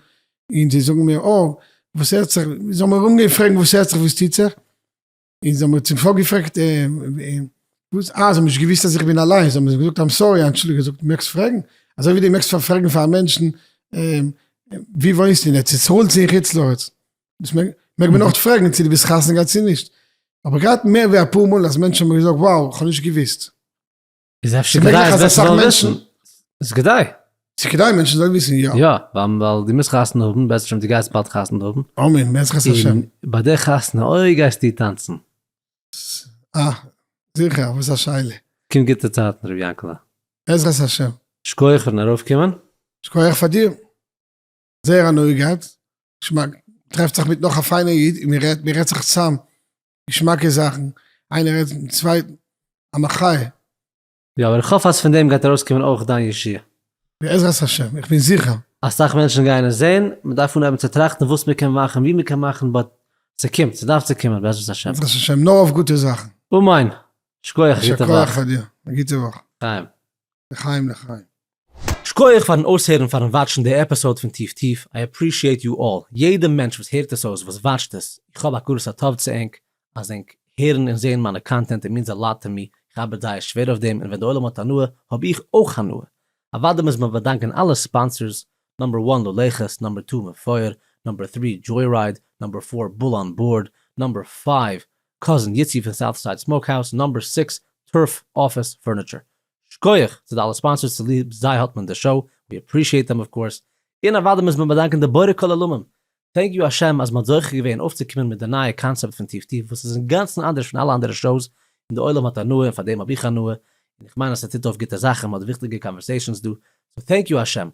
און זיי זאגן מיר אה, וואס הערט זיך, זיי האבן מיר אנגעהויבן פרעגן וואס הערט זיך וואס טוט זיך, און זיי האבן מיר צום סוף געפרעגט וואס, אה זיי האבן נישט געוואוסט אז איך בין אליינס, זיי האבן מיר געזאגט איים סארי, אנטשולדיגט, איך זאג דו מעגסט פרעגן, אזוי ווי דו מעגסט פאר פרעגן פאר א מענטשן ווי וואוינסטו אין ארץ ישראל צו אין חוץ לארץ, דאס מעג מעג מען אויך פרעגן צו דו ביסט חתונה געהאט צו נישט, איך האב געהאט מער ווי אפאר מאל אז מענטשן האבן מיר געזאגט wow איך האב נישט געוואוסט. איז אפשר כדאי אז מענטשן זאלן וויסן? איז כדאי. איז כדאי אז מענטשן זאלן וויסן, יא. יא, ווייל דו מוזט חתונה האבן, בעזרת השם דו גייסט באלד חתונה האבן. אמן, בעזרת השם. און ביי די חתונה, אוי גייסטו טאנצן. אה, זיכער, וואס א שאלה. קומט גוטע צייטן ר' יענקל'ע. בעזרת השם. שקויעך פארן ארויפקומען. שקויעך פאר דיר. זייער הנאה געהאט. געשמאק. טרעפט זיך מיט נאך א פיינע איד, און מען רעדט, מען רעדט זיך צאם. געשמאקע זאכן, איינער רעדט מיטן צווייטן, א מחיה. יא, אבער איך האף אז פון דעם גייט ארויסקומען אויך דיין ישועה. בעזרת השם, איך בין זיכער. אסאך מענטשן גייען עס זען, מען דארף אנהייבן צו טראכטן וואס מען קען מאכן, ווי מען קען מאכן, באט ס'קומט, ס'דארף צו קומען בעזרת השם. בעזרת השם, נאר אויף גוטע זאכן. אמן! שקויעך, א גוטע וואך. יישר כח אדיר, א גוטע וואך. לחיים. לחיים לחיים. שקויעך פארן אויסהערן און פארן וואטשן די עפיסאוד פון טיף טיף, איי עפרישיעט יו אלל, יעדע מענטש וואס הערט עס אויס, וואס וואטשט עס, איך האב הכרת הטוב צו ענק אז ענק הערן און זעהן מיינע קאנטענט און מינס א לאט טו מי, איך ארבעט זייער שווער אויף דעם און ווען די עולם האט הנאה האב איך אויך הנאה, אוודאי מוז מען באדאנקען אלע ספאנסערס, נאמבער וואן לולעכעס, נאמבער טו מפואר, נאמבער טרי דזשוירייד, נאמבער פאר בול אן בארד, נאמבער פייוו קאזין איצי פון סאוטסייד סמאוק האוז, נאמבער סיקס טורף אפיס פורניטשער. שכוח צו די אלע ספאנסערס צוליב זיי האט מען די שאו, ווי אפרישיעט דעם אויף קאורס, און אוודאי מוז מען באדאנקען די בורא כל עולמים, טענק יו השם אז מ'האט זוכה געווען אויפצוקומען מיט די נייע קאנצעפט פון טיף טיף וואס איז אינגאנצן אנדערש פון אלע אנדערע שאוס און די עולם האט הנאה און פאר דעם האב איך הנאה און איך מיין אז ס'טוט אויף גוטע זאכן מ'האט וויכטיגע קאנווערסעישאנס דא סאו טענק יו השם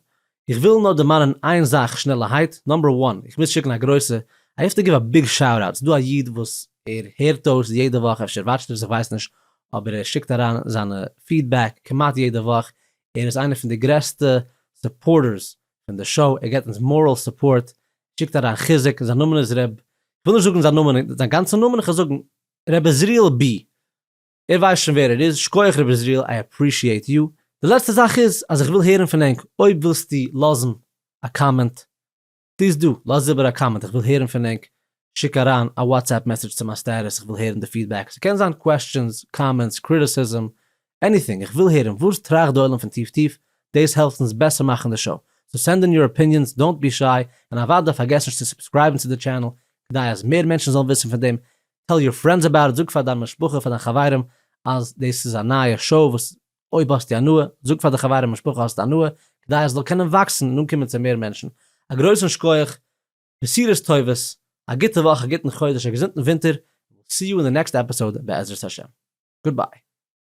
איך וויל נאר דערמאנען איין זאך שנעלערהייט, נאמבער וואן, איך מוז שיקן א גרויסע, איי האוו טו גיוו א ביג שאוט אוט, ס'דא א איד וואס ער הערט אויס יעדע וואך, אפשר וואטשט ער עס איך ווייס נישט, אבער ער שיקט אריין זיינע פידבעק כמעט יעדע וואך, ער איז איינער פון די גרעסטע סופארטערס פון די שאו, ער געבט אונז מאראל סופארט, שיקט אריין חיזוק, זיין נאמען איז ר', איך וויל נישט זאגן זיין נאמען, זיין גאנצע נאמען, איך וועל זאגן ר' עזריאל ב. ער ווייסט שוין ווער ער איז, שקויעך ר' עזריאל איי עפרישיעט יו, די לעצטע זאך איז אז איך וויל הערן פון ענק, אויב ווילסטו לאזן א קאמענט פליז דא, לאז איבער א קאמענט, איך וויל הערן פון ענק, שיק אריין א וואטסעפפ מעסעדזש צו מיין סטעטוס, איך וויל הערן די פידבעק, ס'קען זיין קוועסטשענס, קאמענטס, קריטיסיזם, עניטינג, איך וויל הערן וואס טראכט די עולם פון טיף טיף, דאס העלפט אונז בעסער מאכן די שאו, סאו סענד אין יור אפיניענס, דאונט בי שיי, און אוודאי פארגעס נישט צו סובסקרייבן צו די טשענעל, כדי אז מער מענטשן זאלן וויסן פון דעם טעל יור פרענדס אבאוט איט, זאג פאר דיין משפחה פאר דיין חברים אז דאס איז א נייע שאו וואס אויב האסטו הנאה, זאג פאר די חברים משפחה האסטו הנאה, כדי אז עס זאל קענען וואקסן און אנקומען צו מער מענטשן. א גרויסן שקויעך, בשורות טובות, א גוטע וואך, א גוטן חודש, א געזונטן ווינטער, און וויל סי יו אין די נעקסט עפיסאוד בעזרת השם. גוד ביי.